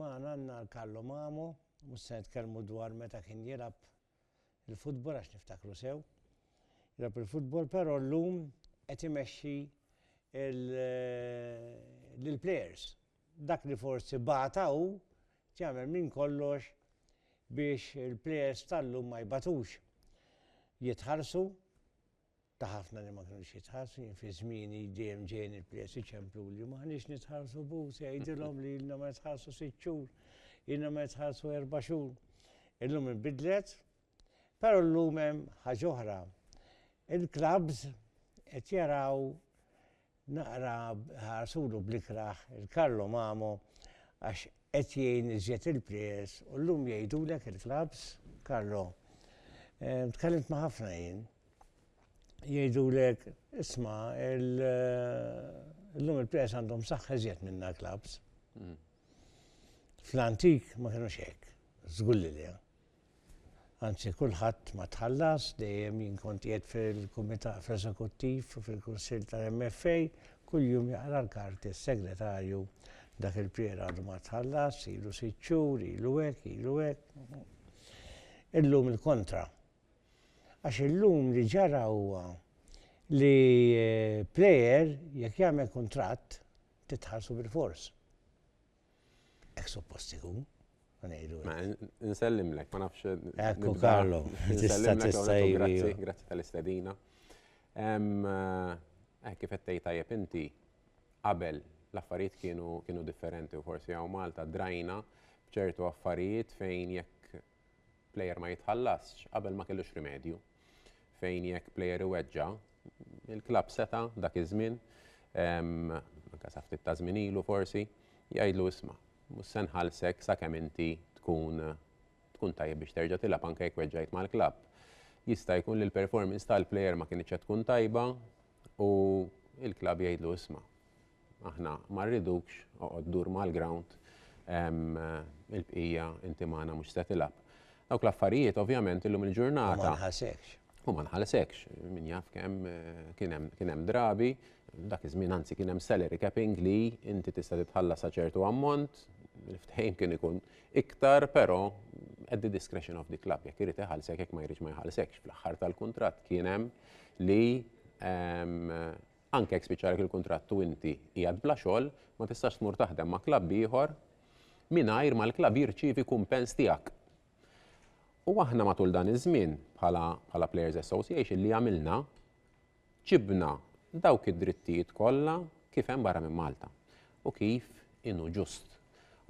Magħna għandna Carlo Mamo, mhux se nitkellmu dwar meta kien jilgħab il-futbol għax niftakru sew, jilgħab il-futbol però llum qed imexxi lill-plejers. Dak li forsi bata hu qed jagħmel minn kollox biex il-plejers tal-lum ma jbatux. Jitħallsu, ta' ħafna li ma kinux jitħarsu, jien fi żmieni dejjem ġejjin il-plejers iċempluli u m'aħniex nitħarsu b'hu, se jgħidilhom li ilna ma nitħarsu sitt xhur, ilna ma nitħarsu erba' xhur. Illum inbidlet, però llum hemm ħaġa oħra. Il-klabbs qed jaraw Naqra ħarsulu bl-ikrah il-Carlo Mamo għax qed jgħin iżjed il-players u llum jgħidulek il-clubs, Carlo, tkellimt ma' ħafna jien, jgħidulek isma' llum il-players għandhom saħħa iżjed minna l-clubs. Fl-antik ma kinux hekk, żgur li le. anzi kulħadd ma tħallas, dejjem jien kont qiegħed fil-Kumitat fl-Eżekuttiv u fil-Kunsill tal-MFA, kuljum jaqra l-karti s-Segretarju, dak il-plier għadu ma tħallas, ilu sitt xhur, ilu hekk, ilu hekk. Illum il-kontra. Għax illum li ġara huwa li plejer jekk jagħmel kuntratt titħallsu bilfors. Ek suppost ikun. Ma nsellimlek, ma nafx. Ekku Karlo, tista' tista' Grazzi tal-istedina. Eh, kif qed tgħid tajjeb inti, qabel l-affarijiet kienu differenti u forsi hawn Malta drajna b'ċertu affarijiet fejn jekk plejer ma jitħallasx qabel ma kellux rimedju. Fejn jekk plejer iweġġa, il-klabb seta' dak iż-żmien, anke sa ftit ta' żmien ilu forsi, jgħidlu isma' mhux se nħallsek sakemm inti tkun tkun tajjeb biex terġa' tilgħab anke jekk weġġajt mal-klabb. Jista' jkun li l-performance tal-plejer ma kinitx qed tkun tajba u l-klabb jgħidlu isma' Aħna ma rridukx, oqgħod dur mal-grawnd, il-bqija inti magħna mhux se tilgħab. Dawk l-affarijiet ovvjament illum il-ġurnata. U ma nħasekx. U ma nħasekx, min jaf kemm kien hemm drabi, dak iż-żmien anzi kien hemm salary capping li inti tista' titħalla sa ċertu ammont, il-ftehim kien ikun iktar, però at the discretion of the club, jekk irid iħallsek, jekk ma jridx ma jħallsekx. Fl-aħħar tal-kuntratt kien hemm li Anke jekk spiċċalek il-kuntratt u inti qiegħed bla xogħol, ma tistax tmur taħdem ma' klabb ieħor mingħajr ma l-klabb jirċievi kumpens tiegħek. U aħna matul dan iż-żmien bħala bħala Players Association li għamilna, ġibna dawk id-drittijiet kollha kif hemm barra minn Malta u kif inhu ġust.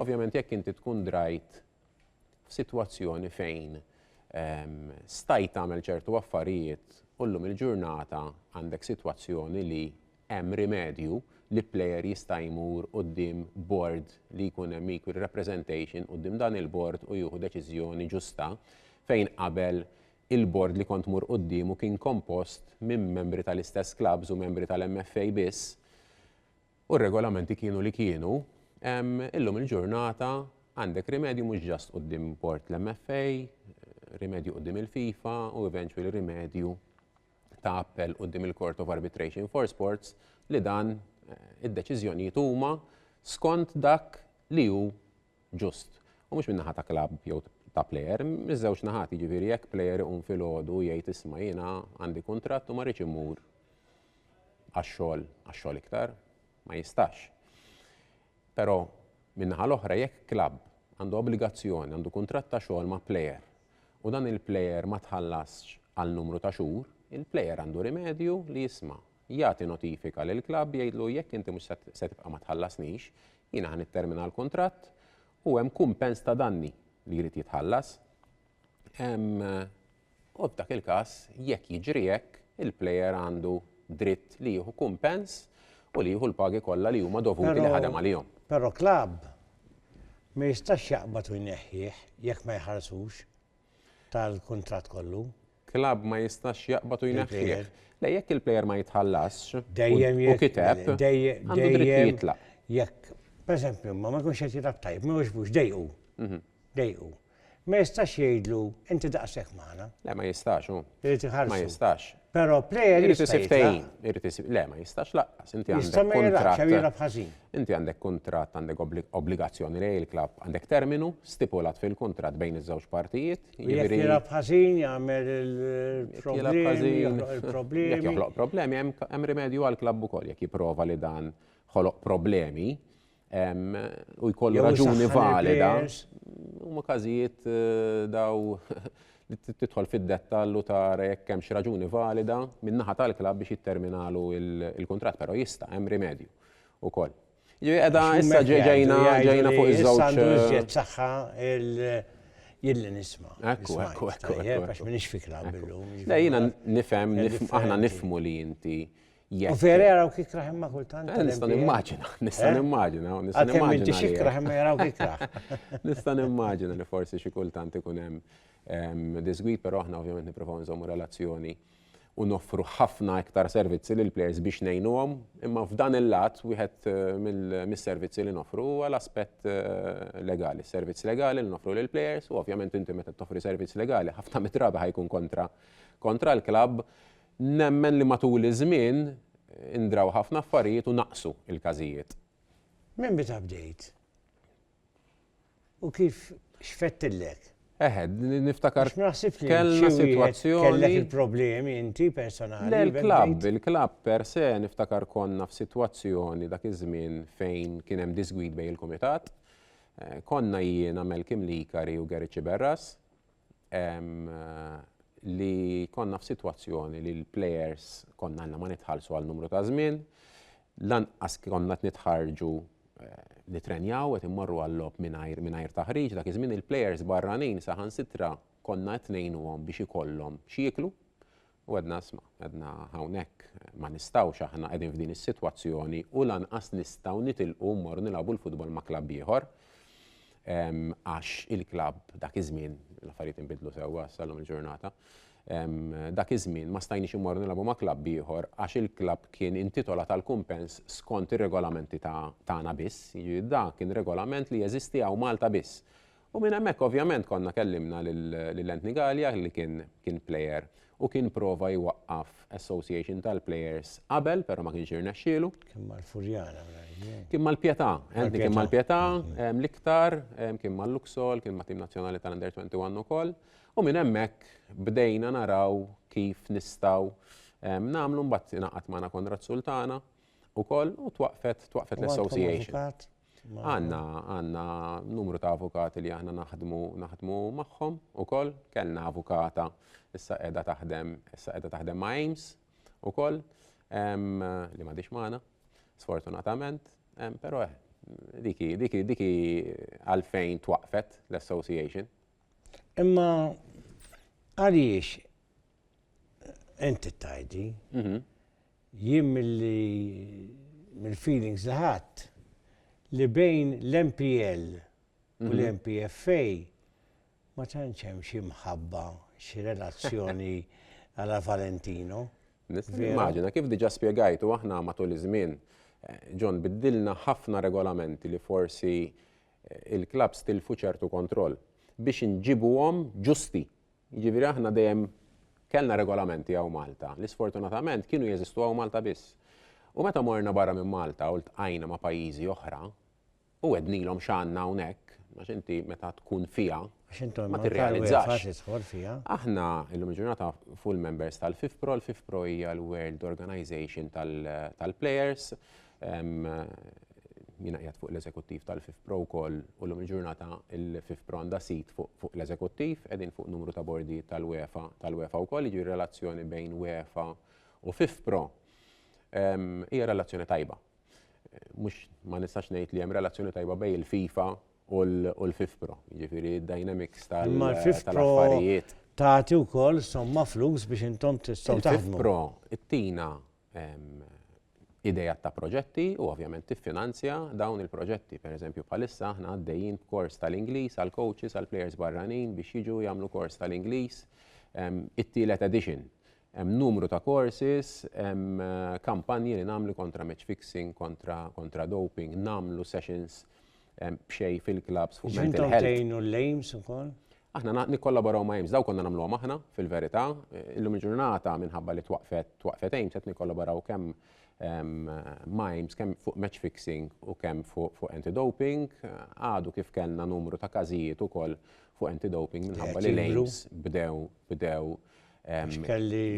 Ovvjament jekk inti tkun drajt f'sitwazzjoni fejn stajt tagħmel ċertu affarijiet u llum il-ġurnata għandek sitwazzjoni li hemm rimedju li plejer jista' jmur quddiem bord li jkun hemm equal representation quddiem dan il-bord u jieħu deċiżjoni ġusta fejn qabel il-bord li kont tmur quddiemu kien kompost minn membri tal-istess klabbs u membri tal-MFA biss u r-regolamenti kienu li kienu, illum il-ġurnata għandek rimedju mhux ġast quddiem bord l-MFA, rimedju quddiem il-FIFA u eventually rimedju ta' appell quddiem il-Court of Arbitration for Sports li dan id-deċiżjonijiet huma skont dak li hu ġust. U mhux min-naħa ta' klabb jew ta' plejer, miż-żewġ naħat, jiġifieri jekk plejer iqum filgħodu u jgħid isma' jiena għandi kuntratt u ma rridx immur għax-xogħol għax-xogħol iktar, ma jistax. Però min-naħa l-oħra jekk klabb għandu obbligazzjoni, għandu kuntratt ta' xogħol ma' plejer u dan il-plejer ma tħallasx għal numru ta' xhur, il-plejer għandu rimedju li jisma' jagħti notifika lill-klabb jgħidlu jekk inti mhux se tibqa' ma tħallasnix, jiena ħa nittermina l-kuntratt u hemm kumpens ta' danni li jrid jitħallas. U f'dak il-każ jekk jiġri hekk, il-plejer għandu dritt li jieħu kumpens u li jieħu l-pagi kollha li huma dovuti li ħadem għalihom. Però klabb ma jistax jaqbad u jneħħih jekk ma jħarsux tal-kuntratt kollu. klabb ma jistax jaqbad u jneħħih. Le, jekk il-plejer ma jitħallasx u kiteb, għandu dritt jitlaq. Jekk, pereżempju, ma ma jkunx qed jilgħab tajjeb, ma jogħġbux, dejqu. Mhm. Dejqu. Ma jistax jgħidlu inti daqshekk magħna. Le, ma jistax hu. Irid iħarsu. Ma jistax. Però plejer irid isib tejn, irid isib le ma jistax laqqas, inti għandek kuntratt. Inti għandek kuntratt, għandek obbligazzjoni lej il-klabb, għandek terminu stipulat fil-kuntratt bejn iż-żewġ partijiet Jekk jilab ħażin jagħmel il-problemi, il-problemi. Joħloq problemi, hemm rimedju għal klabb ukoll jekk jipprova li dan ħoloq problemi u jkollu raġuni valida. Huma każijiet eh, daw li tidħol fid-dettall u tara jekk hemm xi raġuni valida min-naħa tal-klabb biex jitterminalu il-kuntratt, però jista' hemm rimedju ukoll. Jiġifieri qiegħda issa ġejna ġejna fuq iż-żewġ. Issa għandu iżjed saħħa il jilli nisma'. Ekku, ekku, ekku. Għax minix fi klabb illum. Le jiena nifhem, aħna nifhmu li inti U vera jaraw kik raħ imma kultant. Eh, nista' nimmaġina, nista' nimmaġina. Għatem inti xikraħ imma jaraw kik raħ. Nista' nimmaġina li forsi xi kultant ikun hemm disgwid, però aħna ovvjament nippruvaw nżommu relazzjoni u noffru ħafna iktar servizzi lill-plejers biex ngħinuhom, imma f'dan il-lat wieħed mis-servizzi li noffru huwa l-aspett legali, servizz legali li noffru lill-plejers u ovvjament inti meta toffri servizz legali ħafna mit-drabi ħa jkun kontra kontra l-klabb. Nemmen li matul iż-żmien indraw ħafna affarijiet u naqsu l-każijiet. Minn meta bdejt? U kif xfettillek? Eħe, niftakar. Għax ma naħsibx li kellna sitwazzjoni. Kellek il-problemi inti personali. Le l-klabb, il-klabb per se niftakar konna f'sitwazzjoni dak iż-żmien fejn kien hemm disgwid bejn il-kumitat. Eh, konna jiena Melkim Likari u Gerici Berras eh, li konna f'sitwazzjoni li l-players konna għandna ma nitħallsu għal numru ta' żmien Lanqas konna qed nitħarrġu nittrenjaw, qed immorru għal-logħob mingħajr mingħajr taħriġ, dak iż-żmien il-plejers barranin saħansitra konna qed ngħinuhom biex ikollhom x'jieklu u għedna isma', għedna hawnhekk ma nistgħux aħna qegħdin f'din is-sitwazzjoni u lanqas nistgħu nitilqu mmorru nilgħabu l-futbol ma' klabb ieħor għax il-klabb dak iż-żmien l-affarijiet inbidlu sewwa sal-lum il-ġurnata. Dak iż-żmien ma stajniex immorru nilagħbu ma' klabb ieħor għax il-klabb kien intitolat għal kumpens skont ir-regolamenti ta' tagħna biss, jiġifieri dak kien regolament li jeżisti hawn Malta biss. U minn hemmhekk ovvjament konna kellimna lil Anthony Galea li kien kien plejer u kien prova jwaqqaf association tal-plejers qabel però ma kienx irnexxielu. Kien mal-Furjana mnajr. Kien mal-Pietà, Anthony kien mal-Pietà l-iktar, kien mal-Luxol, kien mat-tim nazzjonali tal-Under 21 ukoll. U minn hemmhekk bdejna naraw kif nistgħu nagħmlu mbagħad ingħaqad magħna Konrad Sultana ukoll u twaqfet twaqfet l-association. Għanna għanna numru ta' avukati li aħna naħdmu naħdmu magħhom ukoll kellna avukata issa qiegħda taħdem issa qiegħda taħdem ma' Ames ukoll li m'għadix magħna sfortunatament però eh, diki diki diki għalfejn twaqfet l-association Imma għaliex inti tajdi, mhm. jien mill-li mill-feelings li ħadd li bejn l-MPL u mhm. l-MPFA ma tantx hemm xi mħabba xi relazzjoni għala Valentino. Immaġina kif diġa spjegajtu aħna matul iż-żmien eh, John biddilna ħafna regolamenti li forsi il-klabbs tilfu ċertu kontroll biex inġibuhom ġusti. Jiġifieri aħna dejjem kellna regolamenti hawn Malta li sfortunatament kienu jeżistu hawn Malta biss. U meta morna barra minn Malta u ltqajna ma' pajjiżi oħra u għednilhom x'għandna hawnhekk, għax inti meta tkun fiha ma tirrealizzax. Aħna illum il-ġurnata full members tal-FIFPRO, l-FIFPRO hija l-World Organization tal-Players, tal Jiena qiegħed fuq l-eżekuttiv tal-FIFPro wkoll u llum il-ġurnata il-FIFPro għandha sit fuq l-eżekuttiv, qegħdin fuq numru ta' bordijiet tal-UEFA tal-UEFA wkoll, jiġri relazzjoni bejn UEFA u FIFPro hija relazzjoni tajba. Mhux ma nistax ngħid li hemm relazzjoni tajba bejn il-FIFA u l-FIFPro, jiġifieri d-dynamics tal-affarijiet. Tagħti wkoll somma flus biex intom tistgħu taħdmu. Il-FIFPro ttina ideat ta' proġetti u ovvjament tiffinanzja dawn il-proġetti. Per eżempju, bħalissa aħna għaddejjin b'kors tal-Ingliż għal coaches għal players barranin biex jiġu jagħmlu kors tal-Ingliż it-tielet edition. Hemm numru ta' courses, hemm kampanji li nagħmlu kontra match fixing, kontra doping, nagħmlu sessions b'xejn fil-klabbs fuq mental health. Intom tgħinu l-aims ukoll? Aħna nikkollaboraw ma' AIMS, dawk konna nagħmluhom aħna, fil-verità. Illum il-ġurnata minħabba li twaqqfet twaqqfet AIMS qed nikkollaboraw kemm ma' AIMS kemm fuq match fixing u kemm fuq anti-doping. Għadu kif kellna numru ta' każijiet ukoll fuq anti-doping minħabba li l-AIMS bdew bdew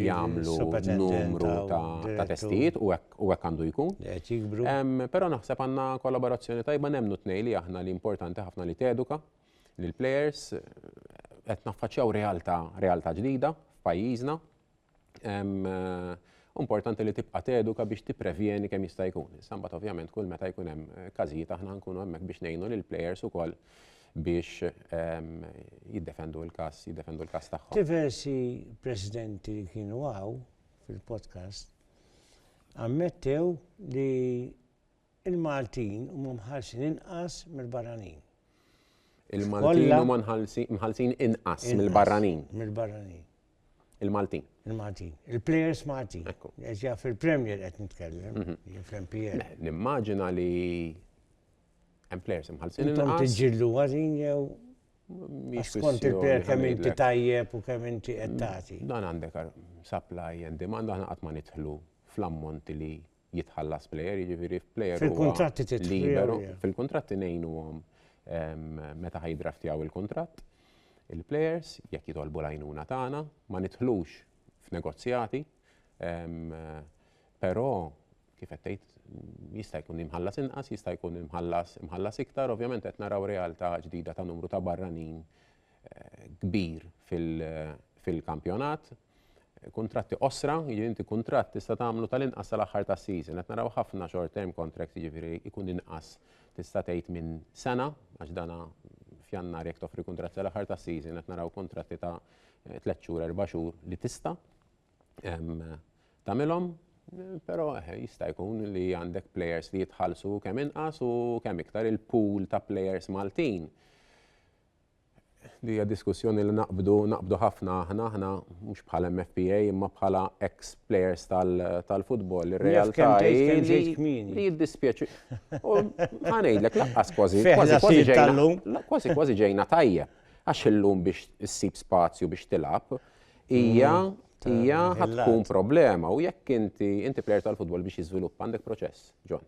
jagħmlu numru ta' testijiet u hekk għandu jkun. Però naħseb għandna kollaborazzjoni tajba nemmnu t-tnejn li aħna li importanti ħafna li teduka lill-plejers. Qed naffaċċjaw realtà realtà ġdida f'pajjiżna. Importanti li tibqa' teduka biex tipprevjeni kemm jista' jkun. Issa mbagħad ovvjament kull meta jkun hemm eh, każijiet aħna nkunu hemmhekk biex ngħinu lil players ukoll biex ehm, jiddefendu l-każ, jiddefendu l-każ tagħhom. Diversi presidenti li kienu għaw fil-podcast ammettew li Il-Maltin huma mħallsin inqas mill-barranin. Il-Maltin huma mħallsin inqas mill-barranin. Mill-barranin. Il-Maltin. Il-Maltin. Il-players Maltin. Eġja fil-Premier qed nitkellem, mhm. fl-MPL. Nimmaġina li hemm players imħallsin. Intom tiġġillu għadin jew Skont il-per kemm inti tajjeb u kemm inti qed tagħti. Dan għandek supply and demand aħna qatt ma nidħlu fl-ammont li jitħallas plejer, jiġifieri f'plejer. Fil-kuntratti titliberu. Fil-kuntratti ngħinuhom meta ħajdraftjaw il-kuntratt. Il-plejers jekk jitolbu l-għajnuna tagħna ma nidħlux f'negozjati, però kif qed tgħid jista' jkun imħallas inqas, jista' jkun imħallas imħallas iktar, ovvjament qed naraw realtà ġdida ta' numru ta' barranin kbir fil-kampjonat. kuntratti qosra, jiġifieri inti kuntratt tista' tagħmlu tal-inqas tal-aħħar tas-season. Qed naraw ħafna short term contracts jiġifieri jkun inqas tista' tgħid minn sena għax dana f'Jannar jekk toffri kuntratt tal-aħħar tas-season qed naraw kuntratti ta' tliet xhur, erba' xhur li tista' tagħmilhom. Però jista' jkun li għandek players li jitħallsu kemm inqas u kemm iktar il-pool ta' players Maltin Din hija diskussjoni li naqbdu, naqbdu ħafna aħna, aħna mhux bħala MFPA imma bħala ex players tal-futbol. Ir-realtà li jiddispjaċi. U ħa ngħidlek laqqas kważi kważi ġejna. Kważi kważi ġejna tajjeb. Għax illum biex issib spazju biex tilgħab hija hija tkun problema u jekk inti inti plejer tal-futbol biex jiżviluppa għandek proċess, John.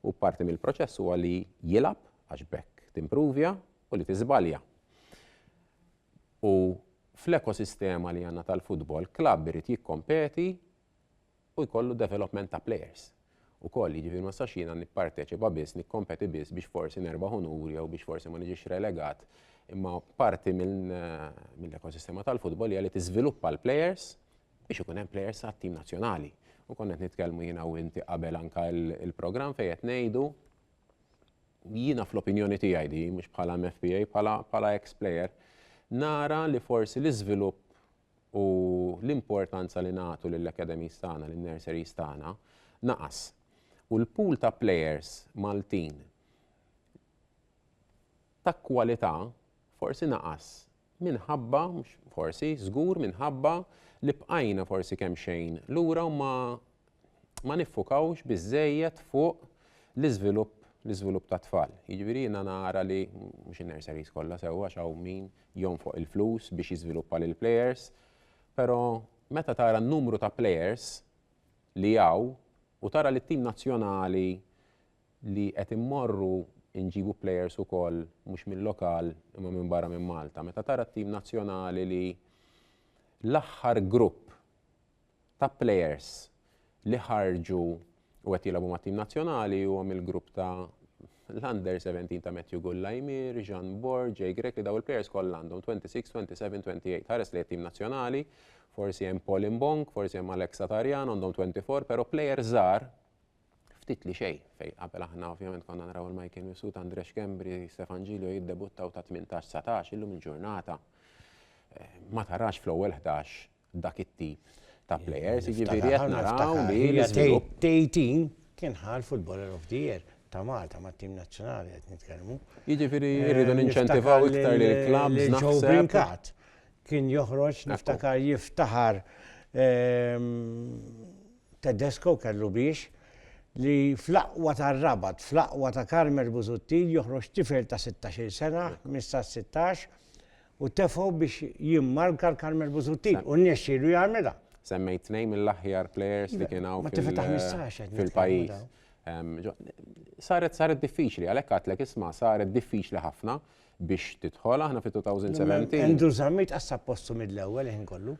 U parti mill-proċess huwa li jilgħab għax bekk timpruvja u li tiżbalja. U fl-ekosistema li għandna tal-futbol, klabb irid jikkompeti u jkollu development ta' players. U koll, jiġifieri ma sax jiena nipparteċipa biss, nikkompeti biss biex forsi nerbaħ unur jew biex forsi ma niġix relegat. Imma parti mill-ekosistema tal-futbol hija li tiżviluppa l-players biex ikun hemm players għat-tim nazzjonali. U konna qed nitkellmu jiena u inti qabel anke l-programm fejn qed ngħidu Jiena fl-opinjoni tiegħi di, mhux bħala MFPA, bħala bħala ex player, nara li forsi l-iżvilupp u l-importanza li nagħtu lill-academies tagħna, lin-nurseries tagħna, naqas. U l-pool ta' players Maltin ta' kwalità forsi naqas minħabba, mhux forsi, żgur minħabba li bqajna forsi kemxejn lura u ma ma niffukawx biżżejjed fuq l-iżvilupp l-iżvilupp ta' tfal. Jiġifieri jiena nara li mhux in-nurseries kollha sewwa għax hawn min jonfoq il-flus biex jiżviluppa lill-plejers, però meta tara n-numru ta' plejers li hawn u tara li t-tim nazzjonali li qed immorru nġibu players ukoll mhux mil-lokal imma minn barra minn Malta. Meta tara t-tim nazzjonali li l-aħħar grupp ta' players li ħarġu u qed jilagħbu mat-tim nazzjonali huwa mill-grupp ta' l-under 17 ta' Matthew Gullaymir, Jean Borg, Jay Grech li daw il-players kollha għandhom 26, 27, 28. Ħares li t-tim nazzjonali, forsi hemm Paul Imbong, forsi hemm Alex Satarjan għandhom 24, però players żgħar ftit li xejn fejn qabel aħna ovvjament konna naraw il-Michael Misut, Andre Xkembri, Stefan Ġilio jiddebuttaw ta' 18-19 illum il-ġurnata eh, ma tarax fl-ewwel 11 dak it-tip ta' players, jiġifieri qed naraw li l-iżvilupp. Tejtin kien ħal footballer of the year ta' Malta ma' tim nazzjonali qed nitkellmu. Jiġifieri eh, rridu ninċentivaw iktar li l-clubs naħseb. Kien joħroġ niftakar jiftaħar ehm, Tedesco kellu biex, li fl-aqwa tar-Rabat, fl-aqwa ta' Carmel Busuttil joħroġ tifel ta' sittax-il sena, ħmistax-sittax, u tefgħu biex jimmarka l-Carmel Busuttil, u rnexxielu jagħmilha. Semmejt tnejn mill-aħjar players li kien hawn fil-pajjiż. Saret saret diffiċli, għalhekk għadtlek isma' saret diffiċli ħafna biex tidħol aħna fit-2017. Andrew Zammit qassab postu mill-ewwel ħin kollu.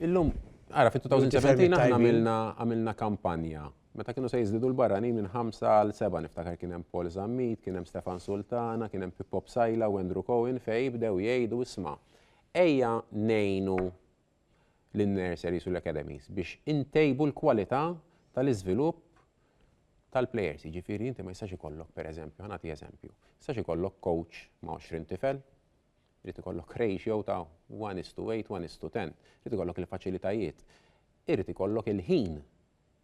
Illum, għara, fit-2017 aħna għamilna kampanja. Meta kienu se jizdidu l-barranin minn 5 għal 7 niftakar kien hemm Paul Zammit, kien hemm Stefan Sultana, kien hemm Pippo Sajla u Andrew Cohen fej bdew jgħidu isma' ejja nejnu l-nurseries u l-academies biex intejbu l-kwalità tal-iżvilupp tal-players, jiġifieri inti ma jistax ikollok pereżempju, ħanati eżempju, jistax ikollok coach ma' 20 tifel, Irid ikollok ratio ta' one is to eight, one is to ten. Irid ikollok il-faċilitajiet. Irid ikollok il-ħin.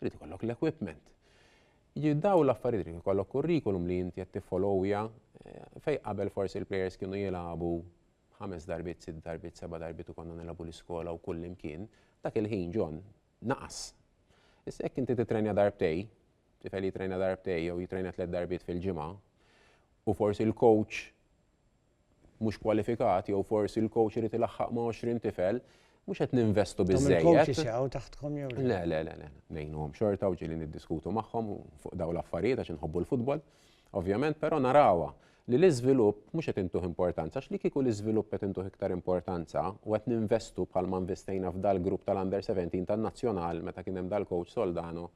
Irid ikollok l-equipment. Jiġifieri dawn l-affarijiet irid ikollok kurrikulum li inti qed tiffolowja eh, fejn qabel forsi l-plejers kienu jilagħbu ħames darbiet, sitt darbiet, seba' darbiet u konna nilagħbu l-iskola u kull imkien, dak il-ħin ġon naqas. Issa jekk inti titrenja darbtej, tifel jitrenja darbtej jew jitrenja tliet darbiet fil-ġimgħa, u forsi l-coach mhux kwalifikat jew forsi l-coach irid ilaħħaq ma' 20 tifel, mhux qed ninvestu biżżejjed. Il-coaches jaqgħu taħtkom jew le? Le, le, le, le. Ngħinuhom xorta u ġieli niddiskutu magħhom fuq dawn l-affarijiet għax inħobbu l-futbol. Ovvjament, però narawha li l-iżvilupp mhux qed intuh importanza, għax li kieku l-iżvilupp qed intuh iktar importanza u qed ninvestu bħal ma investejna f'dal-grupp tal-under 17 tan-nazzjonal meta kien hemm dal-coach Soldano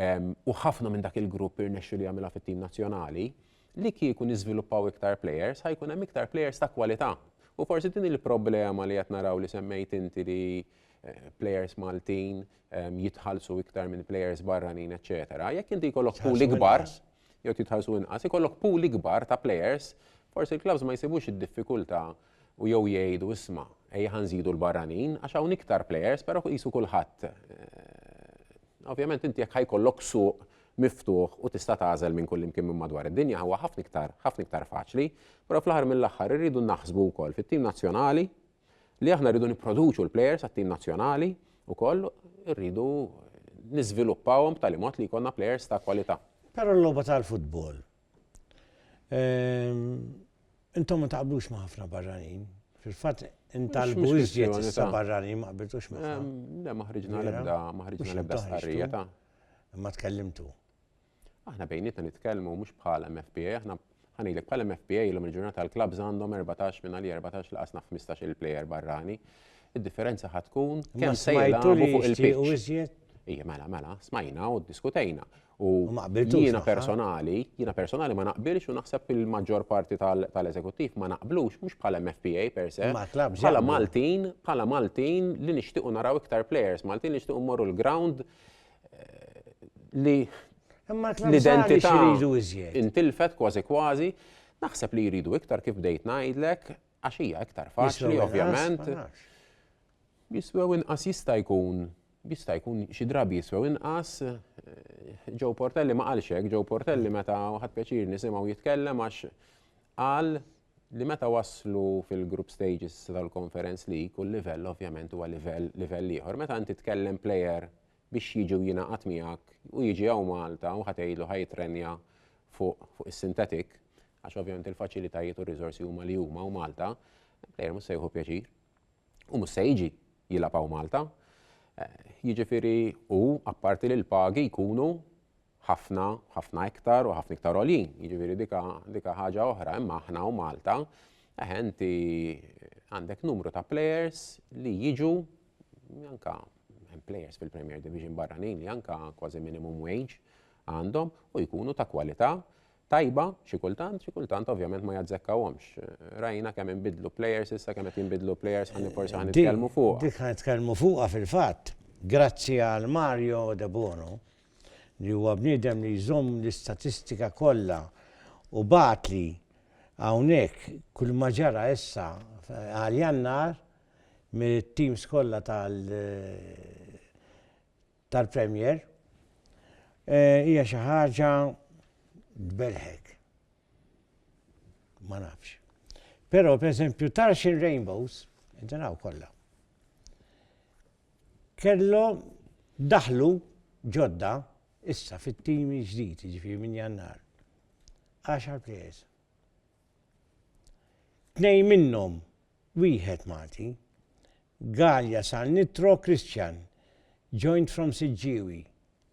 u ħafna minn dak il-grupp irnexxu li jagħmilha fit-tim nazzjonali, li kieku niżviluppaw iktar players ħajkun hemm iktar players ta' kwalità. U forsi din il-problema li qed naraw li semmejt inti li eh, players Maltin ehm, jitħallsu iktar minn players barranin, eċetera. Jekk inti jkollok pool ikbar, jew titħallsu inqas, ikollok pool ikbar ta' players, forsi l-clubs ma jsibux id-diffikultà u jew jgħidu isma' ejja ħa nżidu l-barranin għax hawn iktar players però qisu kulħadd ovvjament inti jekk ħajkollok suq miftuħ u tista' tagħżel minn kullimkien minn madwar id-dinja huwa ħafna iktar ħafna iktar faċli, però fl-aħħar mill-aħħar irridu naħsbu wkoll fit-tim nazzjonali li aħna rridu nipproduċu l-plejers għat-tim nazzjonali wkoll irridu niżviluppawhom b'tali mod li jkollna plejers ta' kwalità. Però l-logħba tal-futbol Intom ma taqblux ma' ħafna barranin. Fil-fatt intalbu iżjed issa barranin ma qbiltux ma'. Le ma ħriġna l-ebda, ma ħriġna l-ebda stqarrija ta'. Ma tkellimtu. Aħna bejnietna nitkellmu mhux bħala MFPA, aħna ħanejlek bħala MFPA l-lum il-ġurnata l-klabs għandhom 14 minn għalli 14 laqas naf 15 il-plejer barrani. Id-differenza ħatkun kemm se jgħidu fuq il-pitch. Ija, mela, mela, smajna u diskutejna. U jiena personali, jiena personali ma naqbilx u naħseb il-maġġor parti tal-eżekuttiv ma naqblux, mhux bħala MFPA per se. Bħala Maltin, bħala Maltin li nixtiequ naraw iktar players, Maltin li nixtiequ mmorru l-ground eh, li l-identità intilfet kważi kważi, naħseb li jridu iktar kif bdejt ngħidlek, Għax hija iktar faċli, ovvjament. Jiswew inqas jista' jkun, jista' jkun xi drabi jiswew inqas. Ġew eh, Portelli ma qalx hekk, Ġew Portelli meta ħadd pjaċir nisimgħu jitkellem għax qal li meta waslu fil-group stages tal-conference li kull livell ovvjament huwa livell livell ieħor. Meta inti tkellem player biex jiġi u jingħaqad miegħek u jiġi hawn Malta u ħa tgħidlu ħa jittrenja fuq is-sintetik għax ovvjament il-faċilitajiet u r-riżorsi huma li huma u Malta, plejer mhux se jieħu pjaċir. U mhux se jiġi jilgħab hawn Malta. Jiġifieri u apparti li l-pagi jkunu ħafna, ħafna iktar u ħafna iktar għoljin, jiġifieri dika, dika ħaġa oħra, imma aħna u Malta, eħe inti għandek numru ta' players li jiġu anka players fil-Premier Division barranin li anka kważi minimum wage għandhom u jkunu ta' kwalità tajba xi kultant, xi kultant ovvjament ma jazzekkawhomx. Rajna kemm inbidlu players issa kemm qed jinbidlu players ħalli forsi ħan nitkellmu fuq. Dik ħan nitkellmu fuqha fil-fatt, grazzi għal Mario De Bono, li huwa bniedem li jżomm l-istatistika kollha u bagħatli hawnhekk kull ma ġara issa għal Jannar mit-teams kollha tal tal-Premier hija xi ħaġa tbelħek. Ma nafx. Però pereżempju Tarxin Rainbows, inti naw kollha. Kellhom daħlu ġodda issa fit-tim il-ġdid, jiġifieri minn Jannar. Għaxar plejers. Tnejn minnhom wieħed Malti. Galea sar Nitro Christian, joined from Siġġiewi,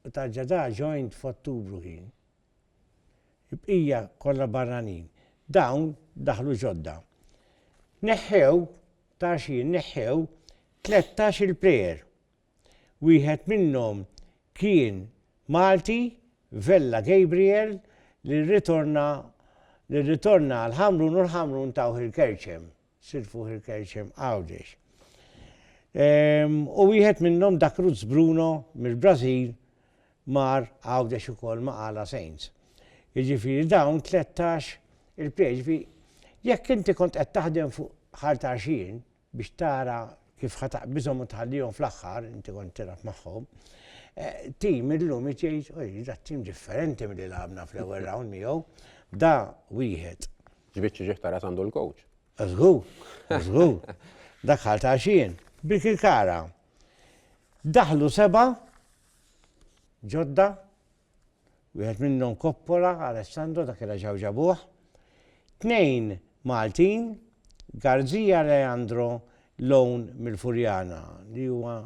u Tarġadà joined f'Ottubru kien, Il-bqija kollha barranin. Dawn daħlu ġodda. Neħħew, ta' xhien neħħew tlettax il player. Wieħed minnhom kien Malti, Vella Gabriel li rritorna li rritorna għall-Ħamrun u l-Ħamrun tawh il-Kerċem. Sid fuq il-Kejċ hemm Għawdex. U wieħed minnhom dak Ruz Bruno mill-Brażil mar Għawdex ukoll ma' Għala Saints. Jiġifieri dawn 13 il-plejers fi jekk inti kont qed taħdem fuq ħartaxin biex tara kif ħa taqbiżhom u tħallihom fl-aħħar, inti kont tilgħab magħhom, eh, tim illum jgħid, oj, da tim differenti milli lagħabna fl-ewwel round miegħu, da wieħed X'biċċ ġieħ ta' ras għandu l-kowċ? Żgur, żgur. Daħħal ta' xien. Birkirkara. Daħlu seba' ġodda, wieħed minnhom Koppola, Alessandro dak kien ġew ġabuh. Tnejn Maltin, Garzija Leandro Lown mill-Furjana li huwa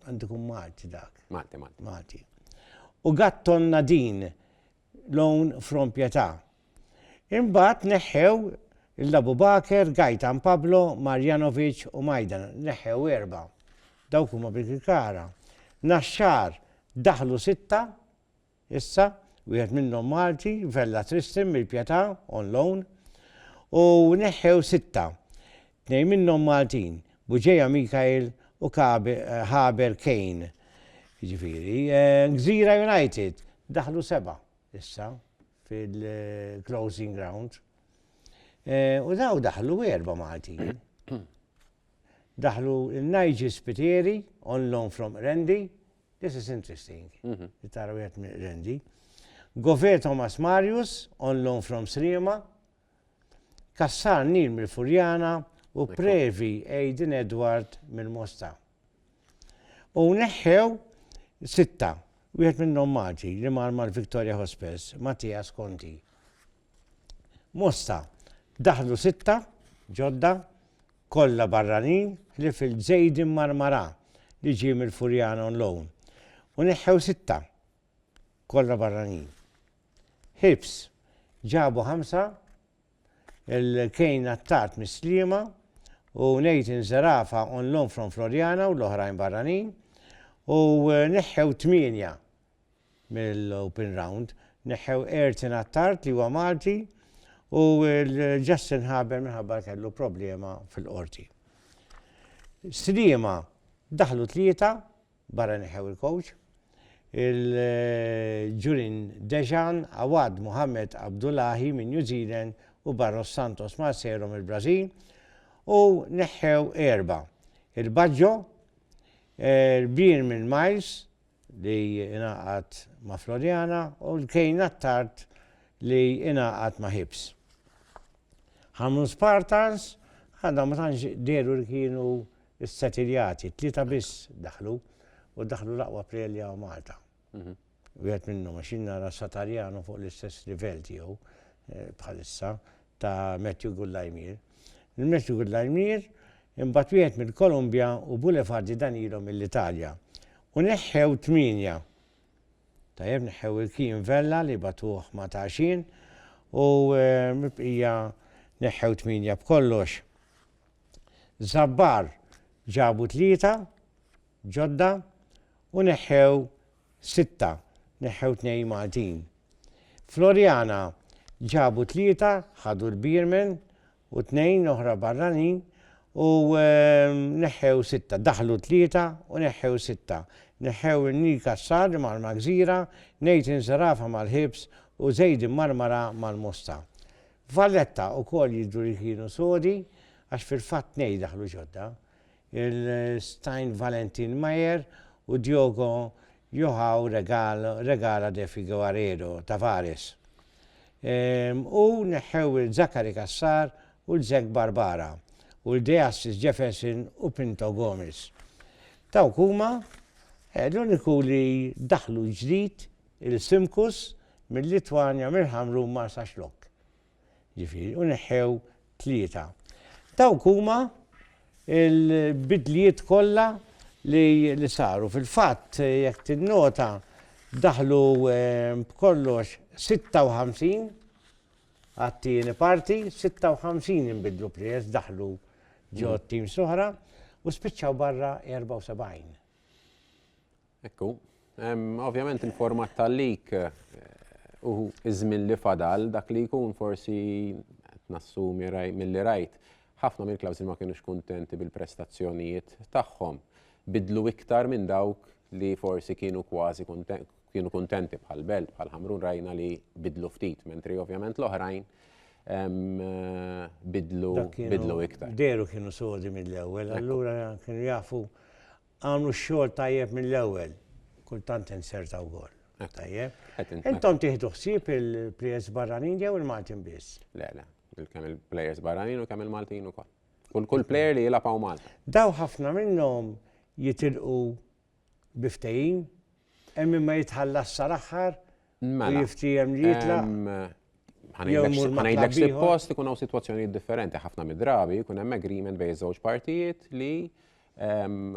għandikum Malti dak. Malti, Malti. Malti. U Gatton Nadin loan from Pietà. Imbagħad neħħew lil Abu Bakr, Gaitan, Pablo, Marjanovic u Maidan, neħħew erbgħa. Dawk huma bil-kikara. Naxxar daħlu sitta issa, wieħed minnhom Malti, Vella Tristan mill-Pietà, on loan, u neħħew sitta. Tnejn minnhom Maltin, Buġeja Mikael u Haber Kane. Jiġifieri, Gżira United daħlu seba' issa fil-closing round. U daw daħlu erba' Maltin. Daħlu Nigel Spiteri on loan from Rendi. This is interesting. Mhm. Tara wieħed minn Rendi. Gover Thomas Marius on loan from Sliema. Cassar Nil mill-Furjana u Previ Aidan Edward mill-Mosta. U neħħew sitta, wieħed minnhom Malti li mar mal-Victoria Hospice, Mattias Conti. Mosta, daħlu sitta ġodda, kollha barranin ħlief il-Zaiden Marmarà li ġie mill-Furjana on loan. U neħħew sitta, kollha barranin. Hibs ġabu ħamsa, il-Kane Attard mis-Sliema u Nathan Zerafa on loan from Floriana u l-oħrajn barranin u neħħew tmienja mill-open round. Neħħew Ertin Attard li huwa Malti u l-Justin Haber minħabba kellu problema fil-qorti. Sliema daħlu tlieta Barra neħħew il-kowċ, il-Julian Dejan, Awad Mohamed Abdullahi minn New Zealand u Barros Santos Marcero mill-Brażil u neħħew erba', il-Baggio, il-Brian minn Miles li ingħaqad ma' Floriana u l-Kane Attard li ingħaqad ma' Hibs. Ħamu Spartans għadhom ma tantx dehru li kienu ssetiljati, tlieta biss daħlu u daħlu l-aqwa plejer li hawn Malta. Mhm. Wieħed minnhom għax jien nara Satarjano fuq l-istess livell tiegħu eh, bħalissa ta' Matthew Gullajmir. Il-Matthew Gullajmir imbagħad wieħed mill-Kolumbja u Bulefardi dan ilhom mill-Italja. U neħħew tminja Tajjeb neħħew il-kien vella li batuh ma' tagħxien u mibqija neħħew tmienja b'kollox. Żabbar ġabu tlieta ġodda u neħħew sitta, neħħew tnejn Maltin. Floriana ġabu tlieta ħadu l-beermen u tnejn oħra barranin u neħħew sitta, daħlu tlieta u neħħew sitta. Neħħew in-Nil Kassar immarmar gżira, Nathan Zerafa mal-ħibs u Zaid immarmara mal-mosta. Valletta wkoll jidhru li kienu sodi għax fil-fatt tnejn daħlu ġodda. il-Stein Valentin Mayer u Diogo Joao Regala de Figueiredo Tavares u neħħew lil Zachary Cassar u lil Zek Barbara u lil De Assis Jefferson u Pinto Gomes. Dawk huma l-uniku li daħlu ġdid il-Simkus mil-Litwanja mill-Ħamrun Marsaxlokk. Ġifieri, u neħħew tlieta. Dawk huma l-bidlijiet kollha li saru. Fil-fatt, jekk tinnota, daħlu ehm, b'kollox 56 għat-tieni parti, 56 inbidlu prijess daħlu ġo mm. tim soħra u spiċċaw barra 74. Ekku, ovvjament il-format tal-lik u iż-żmien li fadal dak li jkun forsi nassumi mill-li rajt ħafna mill-klawżi ma kienux kuntenti bil-prestazzjonijiet tagħhom. Bidlu iktar minn dawk li forsi kienu kważi kienu kuntenti bħal Belt, bħal Ħamrun rajna li bidlu ftit, mentri ovvjament l-oħrajn bidlu iktar. Deru kienu sodi mill-ewwel, allura kienu jafu għamlu x-xogħol tajjeb mill-ewwel, kultant insertaw gol. Tajjeb. Intom tieħdu ħsieb il-plejers barranin jew il-Maltin biss? Le, le, kemm il-plejers barranin u kemm il-Maltin ukoll. Kull kull plejer li jilgħab hawn Malta. Daw ħafna minnhom jitilqu biftejin, hemm ma jitħallas sal-aħħar u Mela, jiftiehem li jitlaq ehm, jew ħanejdlek imur ma' ħanejdlek klabb ieħor. suppost ikun hawn sitwazzjonijiet differenti. Ħafna mid-drabi jkun hemm agreement bejn iż-żewġ partijiet li ehm,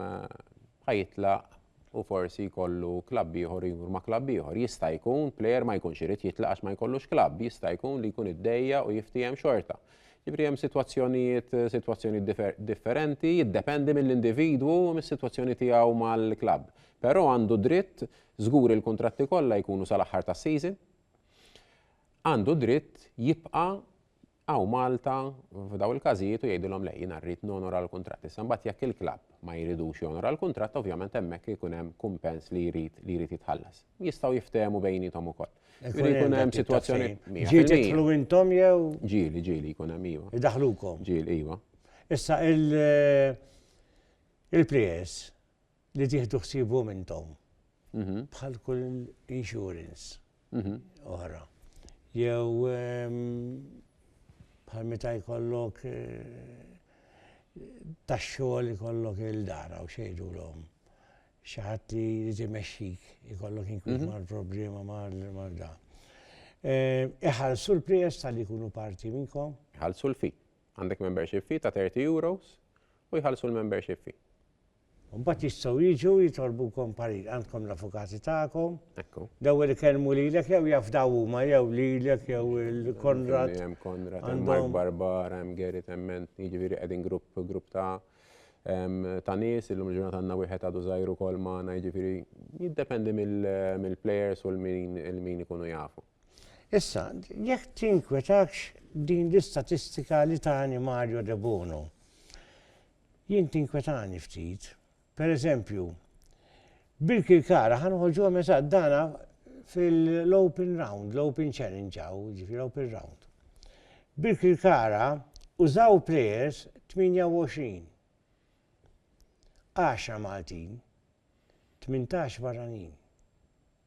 ħajitlaq u forsi jkollu klabb ieħor u jmur ma' klabb ieħor. Jista' jkun plejer ma jkunx irid jitlaq għax ma jkollux klabb, jista' jkun li jkun iddejja u jiftiehem xorta. Ġifri hemm sitwazzjonijiet sitwazzjonijiet difer- differenti, jiddependi mill-individwu u mis-sitwazzjoni tiegħu mal-klabb. Però għandu dritt Żgur il-kuntratti kollha jkunu sal-aħħar tas-season. Għandu d-dritt jibqa' hawn Malta f'dawn il-każijiet u jgħidilhom le jiena rrid nonora l-kuntratt. Issa mbagħad jekk il-klabb ma jridux jonora l-kuntratt ovvjament hemmhekk ikun hemm kumpens li jrid li jrid jitħallas. Jistgħu jiftehmu bejniethom ukoll. Jrid ikun hemm sitwazzjoni Ġieli tidħlu intom jew? Ġieli, ġieli jkun hemm iva. Idaħlukom. Ġieli iva. Issa il-players li tieħdu ħsiebhom intom bħal kull insurance oħra. Jew bħal meta jkollok tax-xogħol ikollok il-dara u xejdulhom xi ħadd li jrid imexxik ikollok inkwiet mal-problema mal da. Iħallsu l-prijest tal jkunu parti minnkom? Iħallsu l-fi. Għandek membership fee ta' 30 euros u jħallsu l-membership fee. U mbagħad jistgħu jiġu jitolbukom parir. Għandkom l-avukati tagħkom. Ekku. L-ewwel ikellmu lilek jew jafdaw huma jew lilek jew il-Konrad. Hemm Konrad, hemm Mark Barbar, hemm Gary Temment, jiġifieri qegħdin grupp grupp ta' ta' nies, illum ġurnata għandna wieħed għadu żgħiru kol magħna, jiġifieri jiddependi mill-plejers u l-min ikunu jafu. Issa, jekk tinkwetakx din l-istatistika li tani Mario De Bono, Jien tinkwetani ftit. Per eżempju, Birkirkara ħa noħorġuha meta dana fil-open round, l-open challenge għaw, ġifi l-open round. Birkirkara użaw players 28. 10 Maltin, 18 barranin.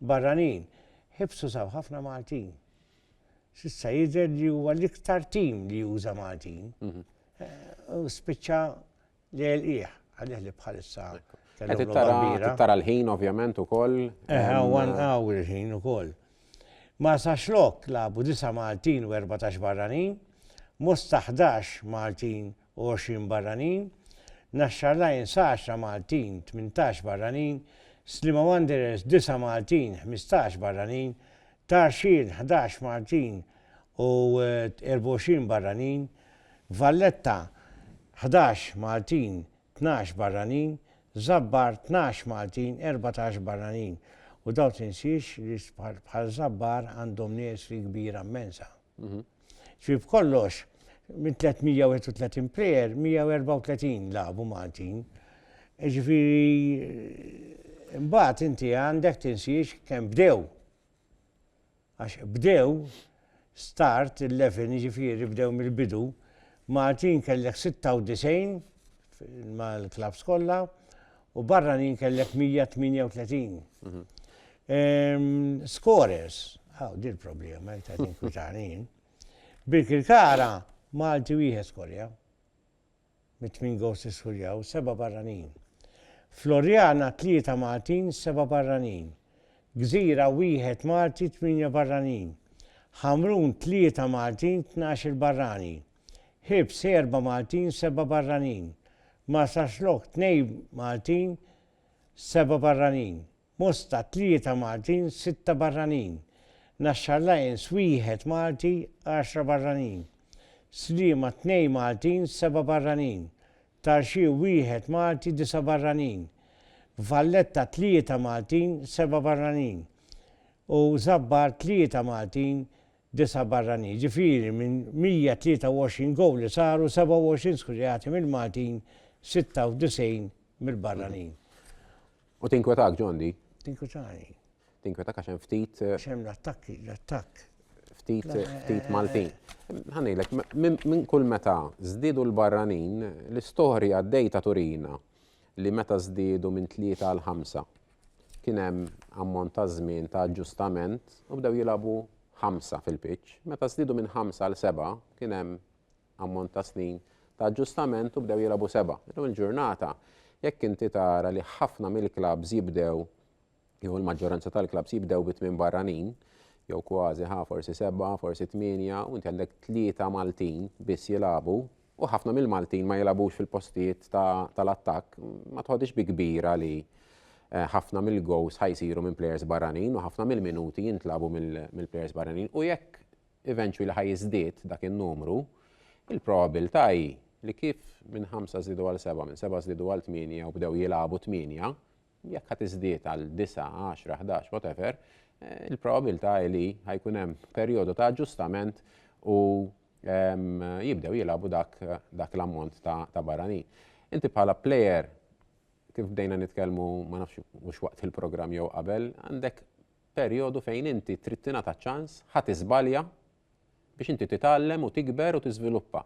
Barranin, ħibsu saw ħafna Maltin. S'issa jidher li huwa l-iktar tim li juża Maltin. Mhm. Eh, u spiċċa li għelqieħ, għalih li bħalissa. Tara l-ħin ovvjament u koll. Eħa, u għan għaw il-ħin u koll. Ma saxlok labu 9 Maltin u 14 barranin, Mosta 11 Maltin u għoxrin barranin, Naxxar Lions għaxra Maltin, tmintax barranin, Sliema Wanderers disa' Maltin, ħmistax barranin, Tarxien ħdax Maltin u erba' għoxrin barranin, Valletta ħdax Maltin, tnax barranin, Żabbar tnax Maltin, erbatax barranin. U dawn tinsiex li bħal Żabbar għandhom nies li kbira mmensa. Ġifieri b'kollox minn 331 plejer, 134 lagħbu Maltin. Ġifieri mbagħad inti għandek tinsiex kemm bdew. Għax bdew start 11 ġifieri bdew mill-bidu Maltin kellek 96 mal-klabs kollha u barranin kellek 138. Scorers, għaw dil problema jek ta' kwitanin. Birkirkara, Malti wieħed skorja. Mit min gos iskurjaw, seba barranin. Floriana, tlieta Maltin, seba barranin. Gżira, wieħed Malti, tminja barranin. Hamrun, tlieta Maltin, tnax il barrani. Ħiebs erba' Maltin, seba' barranin. Marsaxlokk tnej Maltin, seba' barranin. Mosta tlieta Maltin, sitta barranin. Naxxar Lions wieħed Malti, għaxra barranin. Sliema tnej Maltin, seba' barranin. Tarxie wieħed Malti, disa' barranin. Valletta tlieta Maltin, seba' barranin. U Żabbar tlieta Maltin, disa' barranin, jiġifieri minn 123 gowl li saru, 27 skurjati mill-Maltin, 96 mill-barranin. U tinkwetak, John, di? Tinkwetani. Tinkwetak għax hemm ftit. Għax hemm l-attakki, l-attakk. Ftit, ftit Maltin. Ħanejlek, minn kull meta żdiedu l-barranin, l-istorja d-dejta turina li meta żdiedu minn tlieta għal ħamsa. Kien hemm ammont ta' żmien ta' aġġustament u bdew jilagħbu ħamsa fil-pitch. Meta żdiedu minn ħamsa għal sebgħa, kien hemm ammont ta' snin ta' aġġustament u bdew jilagħbu sebgħa. Illum il-ġurnata, jekk inti tara li ħafna mill-klabbs jibdew, jew il-maġġoranza tal-klabbs jibdew bi tmien barranin, jew kważi ħa forsi sebgħa, forsi tmienja, u inti għandek tlieta Maltin biss jilagħbu, U ħafna mill-Maltin ma jilagħbux fil-postijiet tal-attakk, ma tħodix bi kbira li eh, ħafna mill-gows ħajsiru minn players barranin u ħafna mill-minuti jintlabu mill-players barranin u jekk eventually ħaj jiżdied dak in-numru, il-probabilità hi li kif minn 5 żidu għal 7, minn 7 żidu għal 8 u bdew jilagħbu 8, jekk ħa tiżdied għal disgħa, għaxra, ħdax, whatever, il-probabilità hi li ħa jkun hemm perjodu ta' aġġustament u jibdew jilagħbu dak, dak l-ammont ta', ta barranin. Inti bħala player kif bdejna nitkellmu ma nafx mhux waqt il-programm jew qabel, għandek perjodu fejn inti trid tingħata ċans ħadd iżbalja biex inti titgħallem u tikber u tiżviluppa.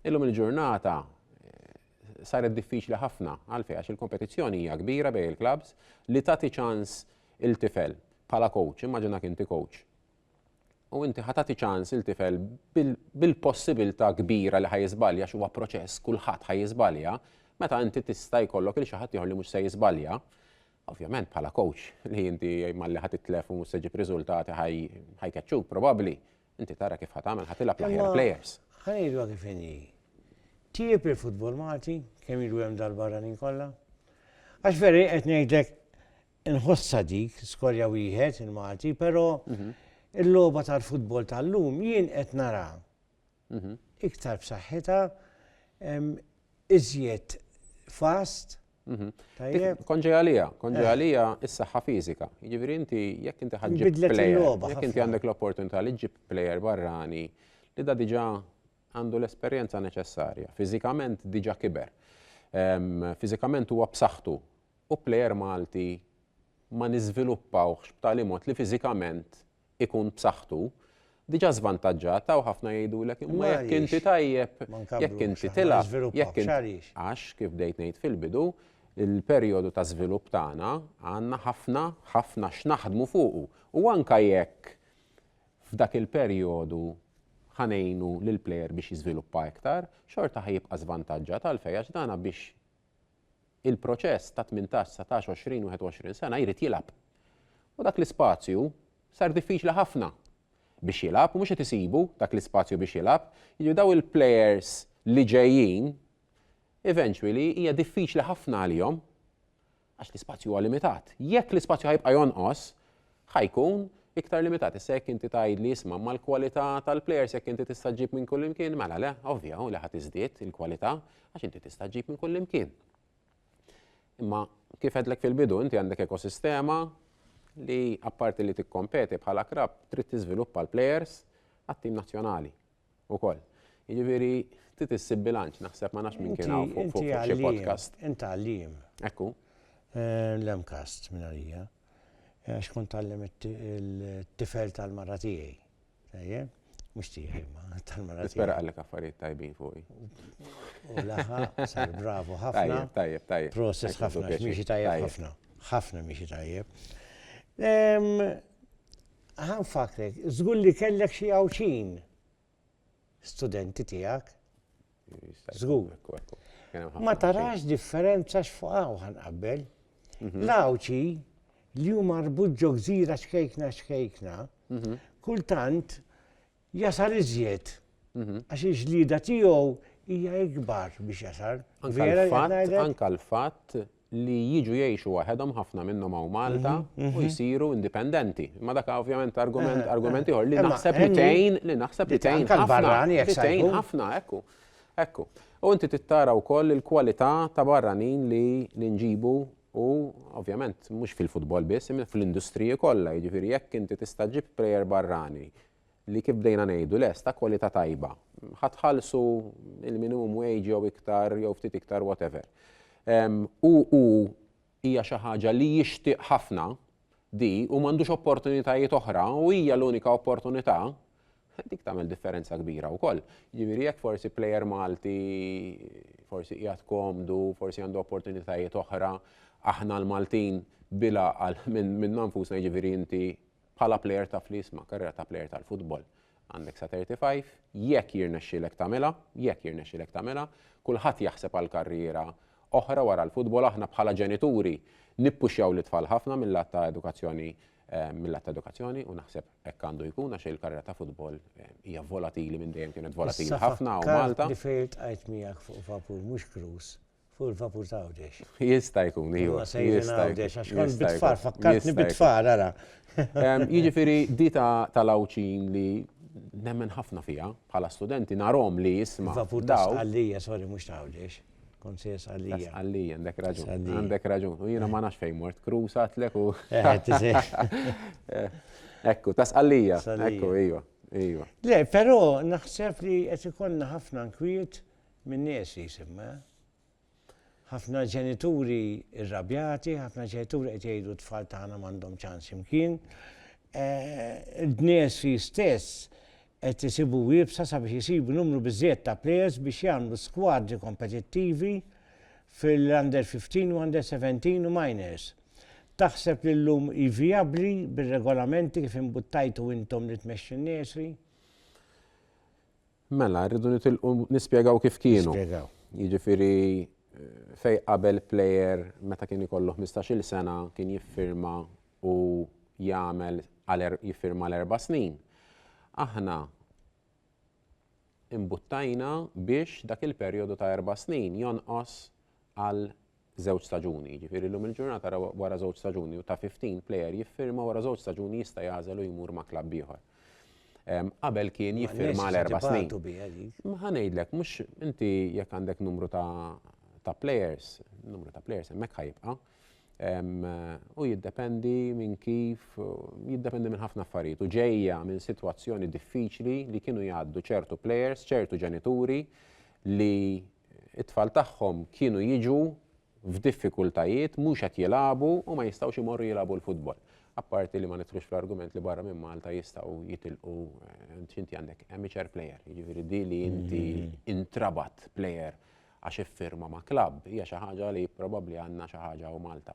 Illum il-ġurnata saret diffiċli ħafna għalfejn għax il-kompetizzjoni hija kbira bejn il-klabs li tagħti ċans il-tifel bħala coach, immaġinak inti coach. U inti ħatati ċans il-tifel bil-possibilità kbira li ħajizbalja xi huwa proċess kulħadd ħajizbalja, meta inti tista' jkollok il xi ħadd li mhux se jiżbalja, Ovvjament bħala coach li inti malli ħa titlef u mhux se ġib riżultati ħajkeċċuk probabbli. Inti tara kif ħa tagħmel ħa tilgħab l-aħjar players. Ħanidwa kif inhi. Tieb il-futbol Malti kemm jiġu hemm dal-barranin kollha? Għax veri qed ngħidlek inħossa dik skorja wieħed il-Malti, però mhm. il-logħba tal-futbol tal-lum jien qed nara iktar b'saħħitha, iżjed fast. Konġi għalija, konġi eh. għalija is-saħħa fiżika. Jiġifieri inti jekk inti ħaġġib player, jekk inti għandek l-opportunità li ġġib player barrani li da diġà għandu l-esperjenza neċessarja, fiżikament diġà kiber. Fiżikament huwa b'saħħtu u player Malti ma niżviluppawx b'tali mod li fiżikament ikun b'saħħtu, diġà żvantaġġat hawn ħafna jgħidulek imma jekk inti tajjeb, jekk inti tilgħab, jekk inti għax kif bdejt ngħid fil-bidu, il-perjodu ta' żvilupp tagħna għandna ħafna ħafna x'naħdmu fuqu u anke jekk f'dak il-perjodu ħa ngħinu lill-plejer biex jiżviluppa iktar, xorta ħa jibqa' żvantaġġat għalfejn għax dana biex il-proċess ta' tmintax, dsatax, għoxrin, wieħed u għoxrin sena jrid jilgħab. U dak l-ispazju sar diffiċli ħafna biex jilgħab u mhux qed isibu dak l-ispazju biex jilgħab. Jiġifieri dawn il-plejers li ġejjin eventually hija diffiċli ħafna għalihom għax l-ispazju huwa limitat. Jekk l-ispazju ħa jibqa' jonqos, ħa jkun iktar limitat. Issa jekk inti tgħidli isma' mal-kwalità tal-plejers jekk inti tista' ġġib minn kullimkien, mela le, ovvja li ħa tiżdied il-kwalità għax inti tista' ġġib minn kullimkien. Imma kif għedlek fil-bidu inti għandek ekosistema li apparti li tikkompeti bħala krab trid tiżviluppa l-plejers għat-tim nazzjonali. ukoll. Jiġifieri trid issib bilanċ, naħseb ma nafx min kien hawn fuq fuq xi podcast. Inti għallim. Ekku. Eh, L-emkast minn għalija. Eh, għax kont għallim it-tifel tal-mara tiegħi. Tajjeb? Mux tiegħi ma tal-mara tiegħi. Spera għallek affarijiet tajbin fuqi. U laħa, sar bravo ħafna. Tajjeb, tajjeb. Process ħafna, miexi tajjeb ħafna. ħafna miexi tajjeb. Ħa nfakkrek, żgur li kellek xi Għawdxin studenti tiegħek. Żgur. Ma tarax differenza x'fuq hawn qabel. Mhm. L-Għawdxi li huma marbut ġo gżira xkejkna xkejkna, mhm. kultant Jasar iżjed. Għax il-ġlieda tiegħu hija ikbar biex jasar. Anka l-fatt li jiġu jgħixu waħedhom ħafna minnhom hawn Malta mhm, mhm. u jsiru indipendenti. Ma dak ovvjament argument eh, eh, argument ieħor li naħseb li tgħin li naħseb li tgħin ħafna. Tgħin ħafna ekku. Ekku. U inti tittara wkoll il-kwalità ta' barranin li nġibu u ovvjament mhux fil-futbol biss, imma fl-industriji kollha, jiġifieri jekk inti tista' ġib plejer barrani li kif bdejna ngħidu les ta' kwalità tajba. Ħa tħallsu il-minimum wage jew iktar jew ftit iktar whatever. U u hija xi ħaġa li jixtieq ħafna di u m'għandux opportunitajiet oħra u hija l-unika opportunità dik tagħmel differenza kbira wkoll. Ġifieri jekk forsi plejer Malti forsi qiegħed komdu, forsi għandu opportunitajiet oħra, aħna l-Maltin bila għal minn nanfusna ġifieri inti bħala plejer ta' flis ma' karriera ta' plejer tal-futbol. Għandek sa 35, jekk jirnexxilek tagħmilha, jekk jirnexxilek tagħmilha, kulħadd jaħseb għal karriera oħra wara l-futbol aħna bħala ġenituri nippuxjaw lit-tfal ħafna mill-lat ta' edukazzjoni mill-lat ta' edukazzjoni u naħseb hekk għandu jkun għax il-karriera ta' futbol hija volatili minn dejjem kienet volatili ħafna u Malta. Different qajt miegħek fuq vapur mhux krus. Fuq il-vapur ta' Għawdex. Jista' jkun, iva. Huwa sejrin Għawdex, għax kont bitfar, fakkartni bitfar, ara. Jiġifieri di tal-Għawdxin li nemmen ħafna fiha bħala studenti narhom li jisma'. Vapur ta' Sqallija, sorry, mhux ta' Għawdex. Kont se Sqallija. Sqallija, għandek raġun. Għandek raġun. U jiena ma nafx fejn mort, Krus għatlek u. Ekku, ta' Sqallija. Ekku, iva. Iva. Le, però naħseb li qed ikollna ħafna nkwiet min-nies li jisimha. Ħafna ġenituri rrabjati, ħafna ġenituri qed jgħidu t-tfal tagħna m'għandhom ċans imkien. Il-Bnejsi stess qed isibu iebsa sabiex isibu numru biżżejjed ta' plejers biex jagħmlu skwadri kompetittivi fil-Under 15 u Under 17 u Minors. Taħseb li llum hi vijabbli bir-regolamenti kif imbuttajtu intom li tmexxu n-Nursery? Mela, rridu nitilqu nispjegaw kif kienu. Nispjegaw. Jiġifieri fej qabel plejer meta kien ikollu 15-il sena kien jiffirma u jagħmel għal er-, jiffirma għal erba' snin. Aħna imbuttajna biex dak il-perjodu ta' erba' snin jonqos għal żewġ staġuni, jiġifieri llum il-ġurnata ra wara żewġ staġuni u ta' 15 plejer jiffirma wara żewġ staġuni jista' jagħżel u jmur ma' klabb ieħor. Qabel kien jiffirma għal erba' snin. Ma ħa ngħidlek, mhux inti jekk għandek numru ta' plejers, numru ta' plejers hemmhekk ħa jibqa'. U jiddependi minn kif, jiddependi minn ħafna affarijiet. U ġejja minn sitwazzjoni diffiċli li kienu jgħaddu ċertu plejers, ċertu ġenituri li It-tfal tagħhom kienu jiġu f'diffikultajiet, mhux qed jilagħbu u ma jistgħux imorru jilagħbu l-futbol. Apparti li ma nidħlux fl-argument li barra minn Malta jistgħu jitilqu x'inti għandek amateur player, jiġifieri di li inti intrabat player għax iffirma ma' klabb hija xi ħaġa li probabbli għandna xi ħaġa u Malta.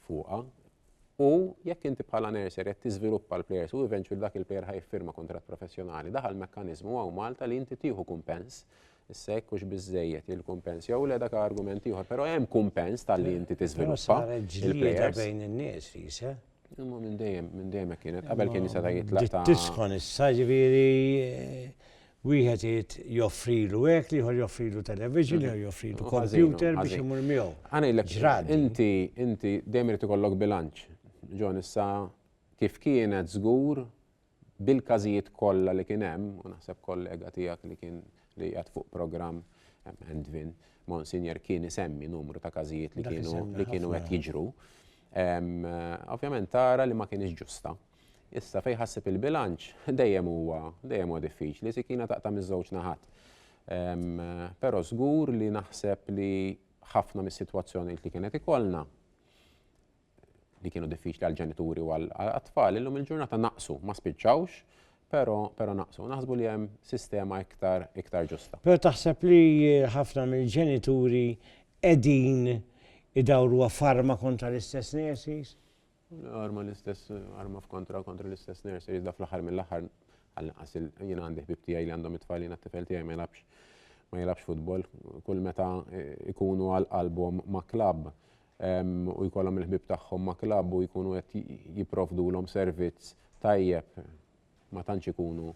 fuqha. U jekk inti bħala nurser qed tiżviluppa l-plejers u eventually dak il-plejer ħa jiffirma kuntratt professjonali, daħal mekkaniżmu hawn Malta li inti tieħu kumpens. Issa jekk hux biżejjed il-kumpens jew le dak argument ieħor, però hemm kumpens talli inti tiżviluppa. Saret ġlieda bejn in-nies, Lisa. Imma minn dejjem, minn dejjem hekk kienet, qabel kien jista' jitlaq ta'. Tisħon issa ġifieri wieħed irid joffrilu hekk, ieħor joffrilu television, ieħor joffrilu computer biex imur miegħu. Ġrad. Inti inti dejjem irid ikollok bilanċ. Ġon issa kif kienet żgur bil-każijiet kollha li kien hemm, u naħseb kollega tiegħek li kien li qiegħed fuq programm hemm Endvin, Monsinjor kien isemmi numru ta' każijiet li kienu li kienu qed jiġru. Ovvjament tara li ma kienx ġusta. Issa fejn ħassib il-bilanċ dejjem huwa dejjem huwa diffiċli, sikina taqta' miż-żewġ naħat. Però żgur li naħseb li ħafna mis-sitwazzjonijiet li kien qed ikollna li kienu diffiċli għall-ġenituri u għall-atfal, illum il-ġurnata naqsu, ma spiċċawx, pero, pero naqsu. Naħsbu li hemm sistema iktar, iktar ġusta. Pero taħseb li ħafna mill-ġenituri edin idawru farma kontra l-istess nurses? Arma l-istess, arma f'kontra kontra l-istess nurses, da fl-ħar mill-ħar għal-naqas jina għandi ħbib tijaj li għandhom it-tfal jina t-tifel tijaj ma jilabx ma jilabx futbol, kull meta eh, ikunu għal-album ma klab u jkollhom il-ħbieb tagħhom ma' klabb u jkunu qed jipprovdulhom servizz tajjeb ma tantx ikunu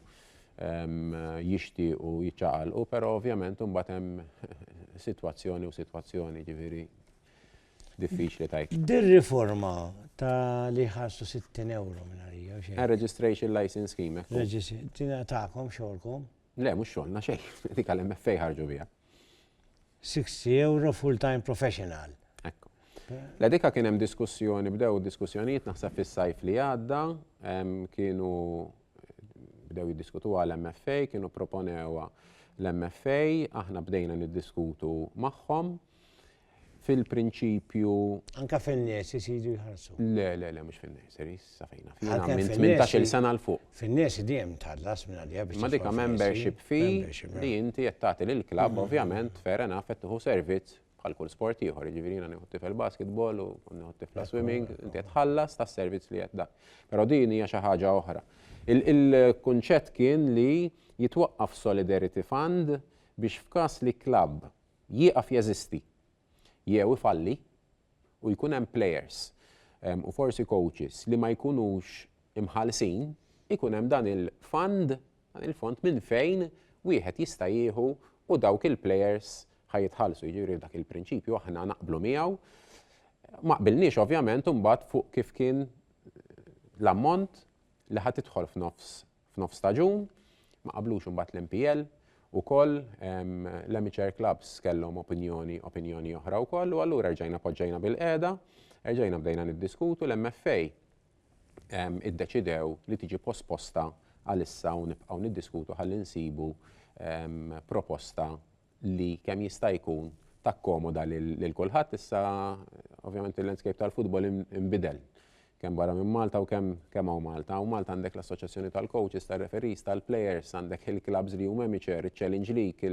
jixtiequ jiċċaqalqu, però ovvjament imbagħad hemm sitwazzjoni u sitwazzjoni ġifieri diffiċli tajt. Dir-riforma ta' li ħarsu 60 euro minn għalija. Registration license scheme. Tina ta'kom xogħolkom. Le, mhux xogħolna xejn, dik għal MFA ħarġu biha. 60 euro full-time professional. Ekku. La dika kien hemm diskussjoni, bdew diskussjonijiet naħseb fis-sajf li għadda, kienu bdew jiddiskutu għal MFA, kienu proponewa l-MFA, aħna bdejna niddiskutu magħhom. fil-prinċipju. Anka fin-nies isidu jħarsu. Le, le, le, mhux fin-nies, iris, sa fejna. Fina minn 18 sena l fuq. Fin-nies dejjem tħallas minn għalija biex. Ma dika membership fee li inti qed tagħti lill-klabb mm-hmm. ovvjament fair enough qed tieħu servizz bħal kull sport ieħor, jiġifieri jiena nieħu tifel basketball u nieħu tifla swimming, inti qed tħallas tas-servizz li qed dak. Però din hija xi ħaġa oħra. Il-kunċett kien li jitwaqqaf Solidarity Fund biex f'każ li klabb jieqaf jeżisti jew ifalli u jkun hemm plejers u forsi kowċis li ma jkunux imħallsin, ikun hemm dan il-fund, dan il-fond minn fejn wieħed jista' jieħu u dawk il-plejers ħa jitħallsu. Jiġifieri dak il-prinċipju aħna naqblu miegħu. Ma qbilniex ovvjament imbagħad fuq kif kien l-ammont li ħa tidħol f'nofs f'nofs staġun, ma qablux imbagħad l-MPL ukoll l-amateur clubs kellhom opinjoni opinjoni oħra wkoll u allura rġajna poġġejna bil-qiegħda, rġajna bdejna niddiskutu l-MFA iddeċidew li tiġi posposta għalissa u nibqgħu niddiskutu ħalli nsibu proposta li kemm jista' jkun takkomoda lil kulħadd issa ovvjament il-landscape tal-futbol inbidel kemm barra minn Malta u kemm kemm hawn Malta. U Malta għandek l-assoċjazzjoni tal-coaches, tal-referees, tal-players, għandek il-clubs li huma amateur, il-Challenge League,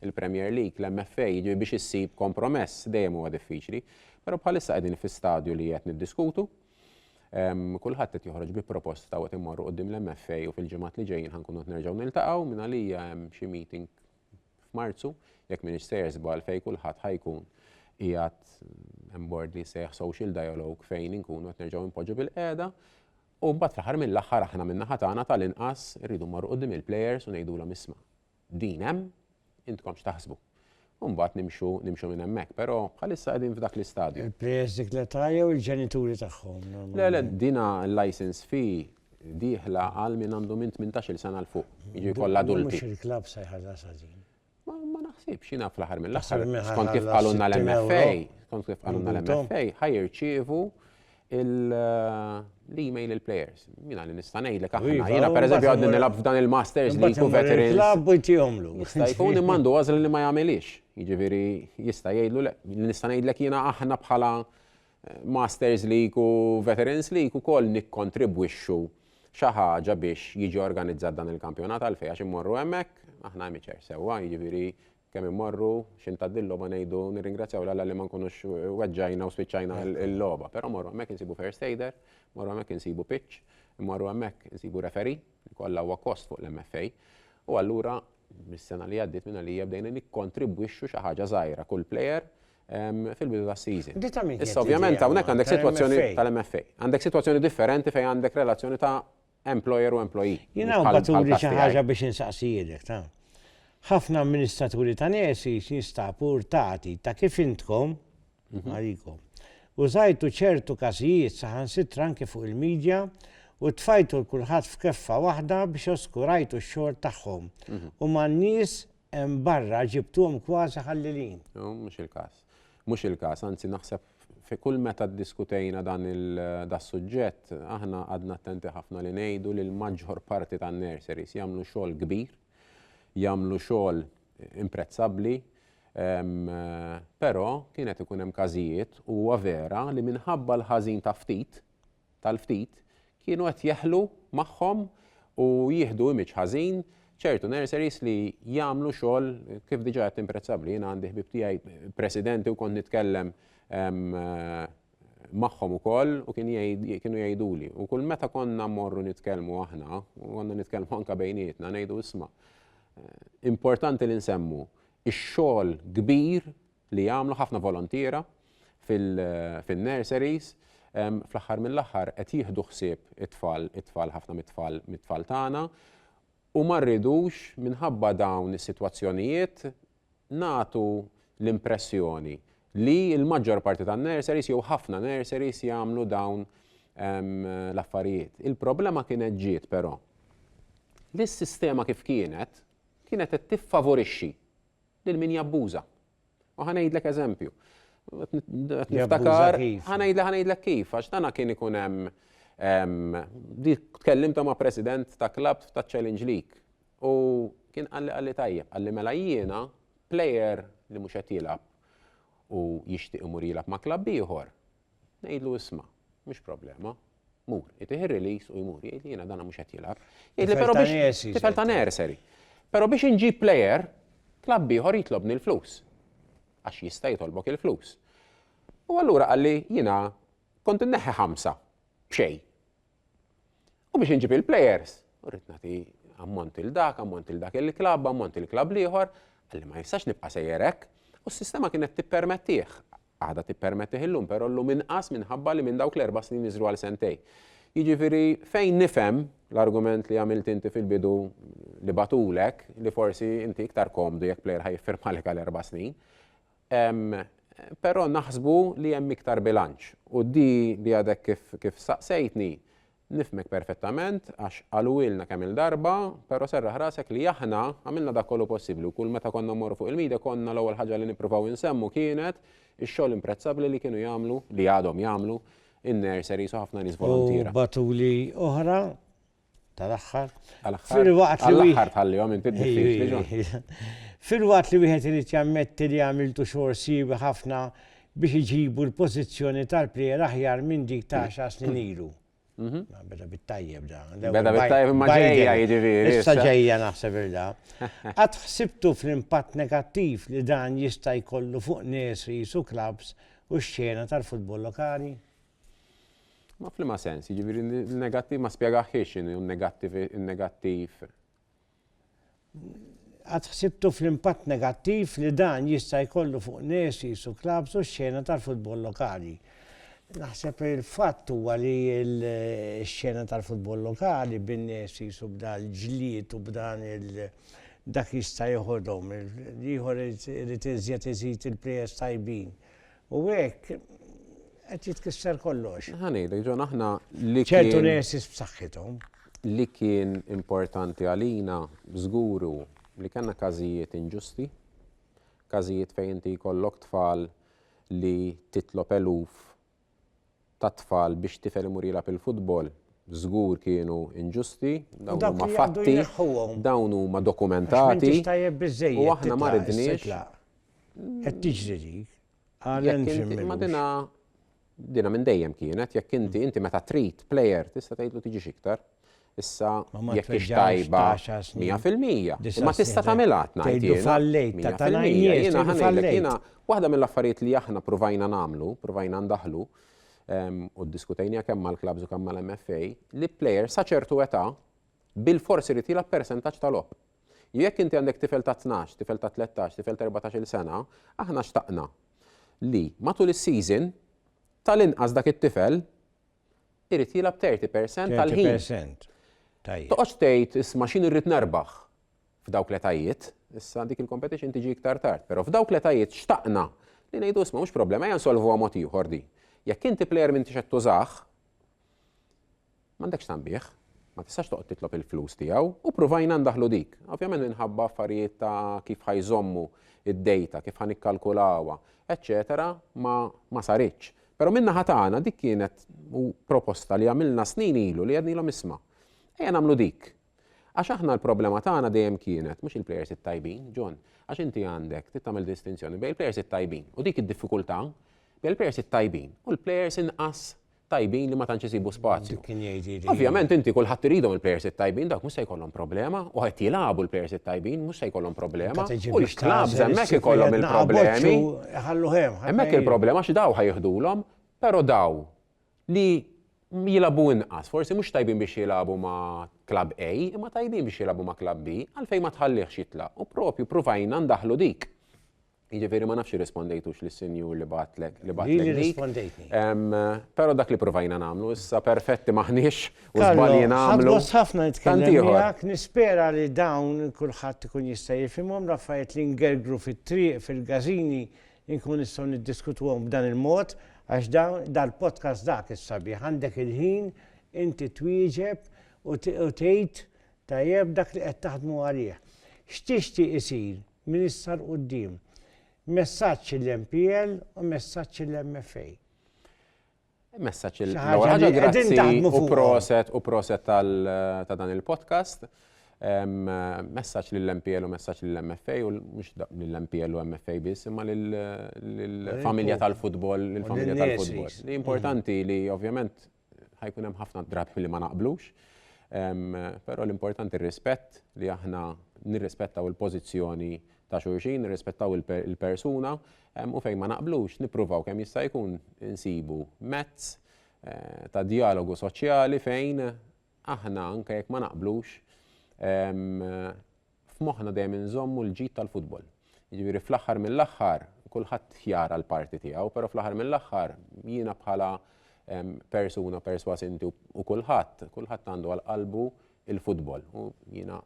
il-Premier League, l-MFA, jiġifieri biex issib kompromess dejjem huwa diffiċli. Però bħalissa qegħdin fi stadju li qed niddiskutu. Kulħadd qed joħroġ bi proposta u qed immorru quddiem l-MFA u fil-ġimgħat li ġejjin ħankunu qed nerġgħu niltaqgħu minn għalija hemm xi meeting f'Marzu, jekk m'iniex sejjer żball, fejn kulħadd ħa jkun qiegħed hemm bord li jsejjaħ social dialogue fejn inkunu qed nerġgħu npoġġu bilqiegħda. U mbagħad fl-aħħar mill-aħħar aħna min-naħa tagħna tal-inqas irridu mmorru quddiem il-plejers u ngħidulhom isma', din hemm, intkom x'taħsbu. U mbagħad nimxu nimxu minn hemmhekk, però bħalissa qegħdin f'dak l-istadju. Il-plejers dik l-età jew il-ġenituri tagħhom? Le, le, dina l-license fee dieħla għal min għandu minn 18-il sena l fuq, jiġifieri kollha adulti. Mhux il-klabb se jħallas għażin. Ma naħsibx jiena fl-aħħar mill-aħħar. Skont kif qalulna l-MFA, skont kif qalulna l-MFA, ħajrċievu l-email il-players. Mina li nista' ngħidlek aħna. Iva, jiena pereżempju għadni nilgħab f'dan il-Masters li jkun veterans. Klabb u jtihomlu. Jista' jkun immandu għażel li ma jagħmilix. Jiġifieri jista' jgħidlu li nista' ngħidlek jiena aħna bħala Masters League u Veterans League ukoll nikkontribwixxu xi ħaġa biex jiġi organizzat dan il-kampjonat għalfejn għax immorru hemmhekk, aħna amateur sewwa, jiġifieri kemm immorru xi ntgħaddi l-logħba ngħidu nirringrazzjaw l-Alla li ma nkunux weġġajna u spiċċajna l-logħba, però morru hemmhekk insibu first aider, morru hemmhekk insibu pitch, immorru hemmhekk insibu referee li kollha huwa kost fuq l-MFA. U allura mis-sena li għaddiet minn għalija bdejna nikkontribwixxu xi ħaġa żgħira kull player fil-bidu tas-season. Di ta' min? Issa ovvjament hawnhekk għandek sitwazzjoni tal-MFA. Għandek sitwazzjoni differenti fejn għandek relazzjoni ta' employer u employee. Jien hawn baturi xi ħaġa biex insaqsijilek ta' ħafna amministraturi ta' nesi jinstabu rtati ta' kif intkom għalikom. Użajtu ċertu każijiet saħansitra anke fuq il-media u tfajtu l-kulħadd f'keffa waħda biex oskurajtu x-xogħol tagħhom u man-nies hemm barra ġibtuhom kważi ħallilin. Mhux il-każ. Mhux il-każ, anzi naħseb fi kull meta ddiskutejna dan il-suġġett, aħna għadna attenti ħafna li ngħidu li l-maġġor parti tan-nurseries jagħmlu xogħol kbir, jagħmlu xogħol imprezzabbli, però kienet ikun hemm każijiet u huwa vera li minħabba l-ħażin ta' ftit, tal-ftit kienu qed jeħlu magħhom u jieħdu image ħażin ċertu nurseries li jagħmlu xogħol kif diġà għedt imprezzabbli. Jiena għandi ħbieb tiegħi presidenti u kont nitkellem magħhom ukoll u kien kienu jgħiduli. U kull meta konna mmorru nitkellmu aħna, u konna nitkellmu anke bejnietna, ngħidu isma' importanti li nsemmu ix-xogħol kbir li jagħmlu ħafna volontiera fin-nurseries fl-aħħar mill-aħħar qed jieħdu ħsieb it-tfal it-tfal ħafna mit-tfal mit-tfal tagħna u ma rridux minħabba dawn is-sitwazzjonijiet nagħtu l-impressjoni li l-maġġor parti tan-nurseries jew ħafna nurseries jagħmlu dawn l-affarijiet. Il-problema kienet ġiet però li s-sistema kif kienet kienet qed tiffavorixxi lil min jabbuża. U ħanejdlek eżempju. Niftakar, ħanejdlek ħanejdlek kif, għax dana kien ikun hemm tkellimta ma' president ta' klab ta' Challenge League. U kien għalli għalli tajjeb, għalli mela jiena player li mhux qed jilgħab u jixtieq imur jilgħab ma' klabb ieħor, Ngħidlu isma', mhux problema, mur. Itih ir-release u jmur, jgħidli jiena dana mhux qed jilgħab. Jgħidli però biex tifel ta' nursery. Però biex inġib player, klabb ieħor jitlobni l-flus. Għax jista' jitolbok il-flus. U allura qalli jiena kont inneħħi ħamsa b'xejn. U biex inġib il-players, u rrid nagħti ammont il dak, ammont il dak il-klabb, ammont il-klabb l-ieħor, għalli ma jistax nibqa' sejjer hekk, u s-sistema kienet tippermettih. Għadha tippermettih illum, però llum inqas minħabba li minn dawk l-erba' snin niżlu għal sentejn. Jiġifieri fejn nifhem l-argument li għamilt inti fil-bidu li bagħtulek li forsi inti iktar komdu jekk plejer ħa jiffirmalek għal erba' snin, però naħsbu li hemm iktar bilanċ. U di li għadek kif saqsejtni, Nifhmek perfettament għax qaluhielna kemm-il darba, però serraħ rasek li aħna għamilna dak kollu possibbli u kull meta konna mmorru fuq il-media konna l-ewwel ħaġa li nippruvaw insemmu kienet ix-xogħol imprezzabbli li kienu jagħmlu, li għadhom jagħmlu, in-nurseries u ħafna nies voluntiera. U batuli oħra, tal-aħħar, filwaqt li. Għall-aħħar tħallihom inti d-diffiċli, John. Filwaqt li wieħed irid jammetti li għamiltu xogħol siewi ħafna biex iġibu l-pożizzjoni tal-plejer aħjar minn dik ta' għaxar snin ilu. Mhm. Ma beda bit-tajjeb da. Beda bit-tajjeb imma ġejja jiġifieri. Issa ġejja naħseb irda. Qatt ħsibtu fl-impatt negattiv li dan jista' jkollu fuq nies li jisu klabs u x-xena tal-futbol lokali? Ma f'liema sens, jiġifieri negattiv ma spjegaħiex x'inhu negattiv negattiv. Qatt ħsibtu fl-impatt negattiv li dan jista' jkollu fuq Nesis u clubs u x-xena tal-futbol lokali? Naħseb li l-fatt huwa li x-xena tal-futbol lokali bin-Nesis u b'dan l-ġlied u b'dan il dak jista' jeħodhom, l-ieħor irid iżjed iżid il-players tajbin. U hekk qed jitkisser kollox. Ħanejlek ġon aħna li ċertu nesis b'saħħithom. Li kien importanti għalina żguru li kellna każijiet inġusti, każijiet fejn inti jkollok tfal li titlob eluf tat-tfal biex tifel imur jilgħab il-futbol żgur kienu inġusti, dawn huma fatti, dawn huma dokumentati. U aħna ma ridniex. Qed tiġri dik. Ma dina dina minn dejjem kienet jekk inti inti meta trid plejer tista' tgħidlu tiġix iktar. Issa, jekk hix tajba mija fil-mija, imma tista' tagħmilha, qed ngħid jiena, mija fil-mija. Jiena ħa ngħidlek, jiena, waħda mill-affarijiet li aħna pruvajna nagħmlu, pruvajna ndaħħlu, u ddiskutejniha kemm mal-klabbs u kemm mal-MFA, li plejer sa ċertu età bilfors irid jilgħab persentaġġ ta' logħob. Jekk inti għandek tifel ta' 12, tifel ta' 13, tifel ta' 14-il sena, aħna xtaqna li matul is-season tal-inqas dak it-tifel irid jilgħab 30% tal-ħin. 30%. Tajjeb. Toqgħodx tgħid isma' x'in irrid nerbaħ f'dawk l-etajiet, issa dik il-competition tiġi iktar tard, però f'dawk l-etajiet xtaqna li ngħidu isma' mhux problema ejja nsolvuha mod ieħor di. Jekk inti plejer m'intix qed tużah, m'għandekx tanbih, ma tistax toqgħod titlob il-flus tiegħu u pruvajna ndaħlu dik. Ovvjament minħabba affarijiet ta' kif ħajżommu id-data, kif ħanikkalkulawha, eċċetera, ma saritx. Però min-naħa tagħna dik kienet u proposta li għamilna snin ilu li għednilhom isma', ejja nagħmlu dik. Għax aħna l-problema tagħna dejjem kienet mhux il-plejers it-tajbin, John, għax inti għandek trid tagħmel distinzjoni bejn il-plejers it-tajbin u dik id-diffikultà bejn il-plejers it-tajbin u l-plejers inqas tajbin li ma tantx isibu spazju. Ovvjament inti kulħadd iridhom il-plejers it-tajbin dak mhux se jkollhom problema u qed jilagħbu l-plejers it-tajbin mhux se jkollhom problema. U l-klabb hemmhekk ikollhom il-problemi. Iħalluh hemm. Hemmhekk il-problema għax daw ħa jiħdulhom, però daw li jilagħbu inqas, forsi mhux tajbin biex jilagħbu ma' klabb A, imma tajbin biex jilagħbu ma' klabb B, għalfejn ma tħallihx jitlaq? U propju pruvajna ndaħħlu dik. Jiġifieri ma nafx irrispondejtux lis-sinjur li bagħatlek li bagħatlek. Li rispondejtni. Però dak li pruvajna nagħmlu, issa perfetti maħniex. u żbalji nagħmlu. Ħadd ħafna nitkellem miegħek, nispera li dawn kulħadd ikun jista' jifhimhom l-affarijiet li ngergru fit-triq fil-każini nkun nistgħu niddiskutuhom b'dan il-mod għax dal-podcast dak is-sabiħ għandek il-ħin inti twieġeb u tgħid tajjeb dak li qed taħdmu għalih. X'tixtieq isir minn issa l quddiem Messaġġ l-MPL u messaġġ l-MFA. Messaċ il-ħagġa grazzi u proset u proset ta' dan il-podcast. Messaċ l-MPL u messaċ l-MFA u mux l-MPL u MFA bis, imma l-familja tal-futbol, l-familja tal-futbol. Li importanti li ovvjament ħajkun hemm ħafna drabi li ma naqblux, pero l-importanti r-rispett li aħna nirrispettaw il-pozizjoni ta' xurxin, nirrispettaw il-persuna, u fejn ma naqblux nippruvaw kemm jista' jkun insibu mezz ta' djalogu soċjali fejn aħna anke jekk ma naqblux f'moħħna dejjem inżommu l-ġid tal-futbol. Jiġifieri fl-aħħar mill-aħħar kulħadd jara l-parti tiegħu, però fl-aħħar mill-aħħar jiena bħala persuna perswas inti u kulħadd, kulħadd għandu għal qalbu il-futbol u jiena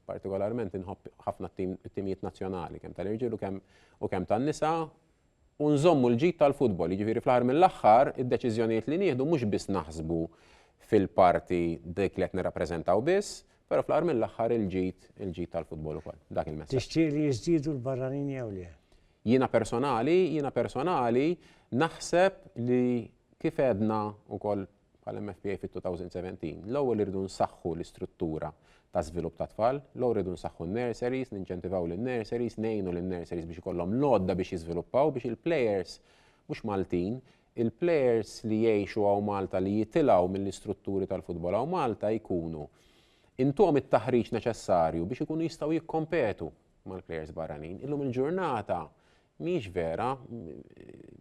partikolarment inħobb ħafna t-timijiet nazzjonali kemm tal-irġiel u kemm tan-nisa u nżommu l-ġid tal-futbol. Jiġifieri fl-aħħar mill-aħħar id-deċiżjonijiet li nieħdu mhux biss naħsbu fil-parti dik li qed nirrappreżentaw biss, però fl-aħħar mill-aħħar il-ġid il-ġid tal-futbol ukoll. Dak il-messaġġ. Tixtieq li jiżdiedu l-barranin jew le? Jiena personali, jiena personali naħseb li kif għedna wkoll bħala MFPA fit-2017, l-ewwel irridu nsaħħu l-istruttura ta' żvilupp tat-tfal, l-ewwel irridu nsaħħu n-nurseries, ninċentivaw lin-nurseries, ngħinu lin-nurseries biex ikollhom l-għodda biex jiżviluppaw biex il-players mhux Maltin, il-players li jgħixu hawn Malta li jitilgħu mill-istrutturi tal-futbol hawn Malta jkunu intuhom it-taħriġ neċessarju biex ikunu jistgħu jikkompetu mal-players barranin. Illum il-ġurnata mhijiex vera,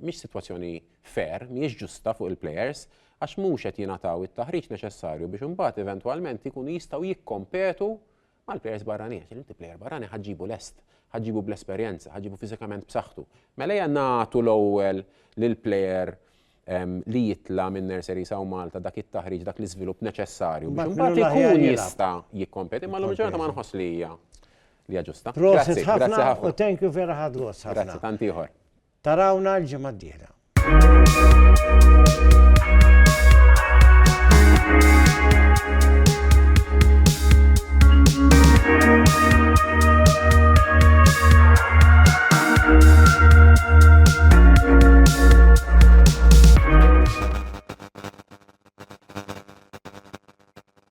mhix sitwazzjoni fair, mhijiex ġusta fuq il-plejers għax mhux qed jingħataw it-taħriġ neċessarju biex imbagħad eventwalment ikunu jistgħu jikkompetu mal-plejers barranin. Għax inti plejer barrani ħa ġġibu lest, ħa ġġibu bl-esperjenza, ħa ġġibu fiżikament b'saħħtu. Mela hija nagħtu l-ewwel lill-plejer li jitla minn Nursery Saw Malta dak it-taħriġ, dak l-iżvilupp neċessarju. Mbagħad ikun jista' jikkompeti, ma l-ġurnata ma nħoss li hija. li hija ġusta. Prosit ħafna u thank you vera ħad gost ħafna. Grazzi tant ieħor. Tarawna l-ġimgħa d-dieħla.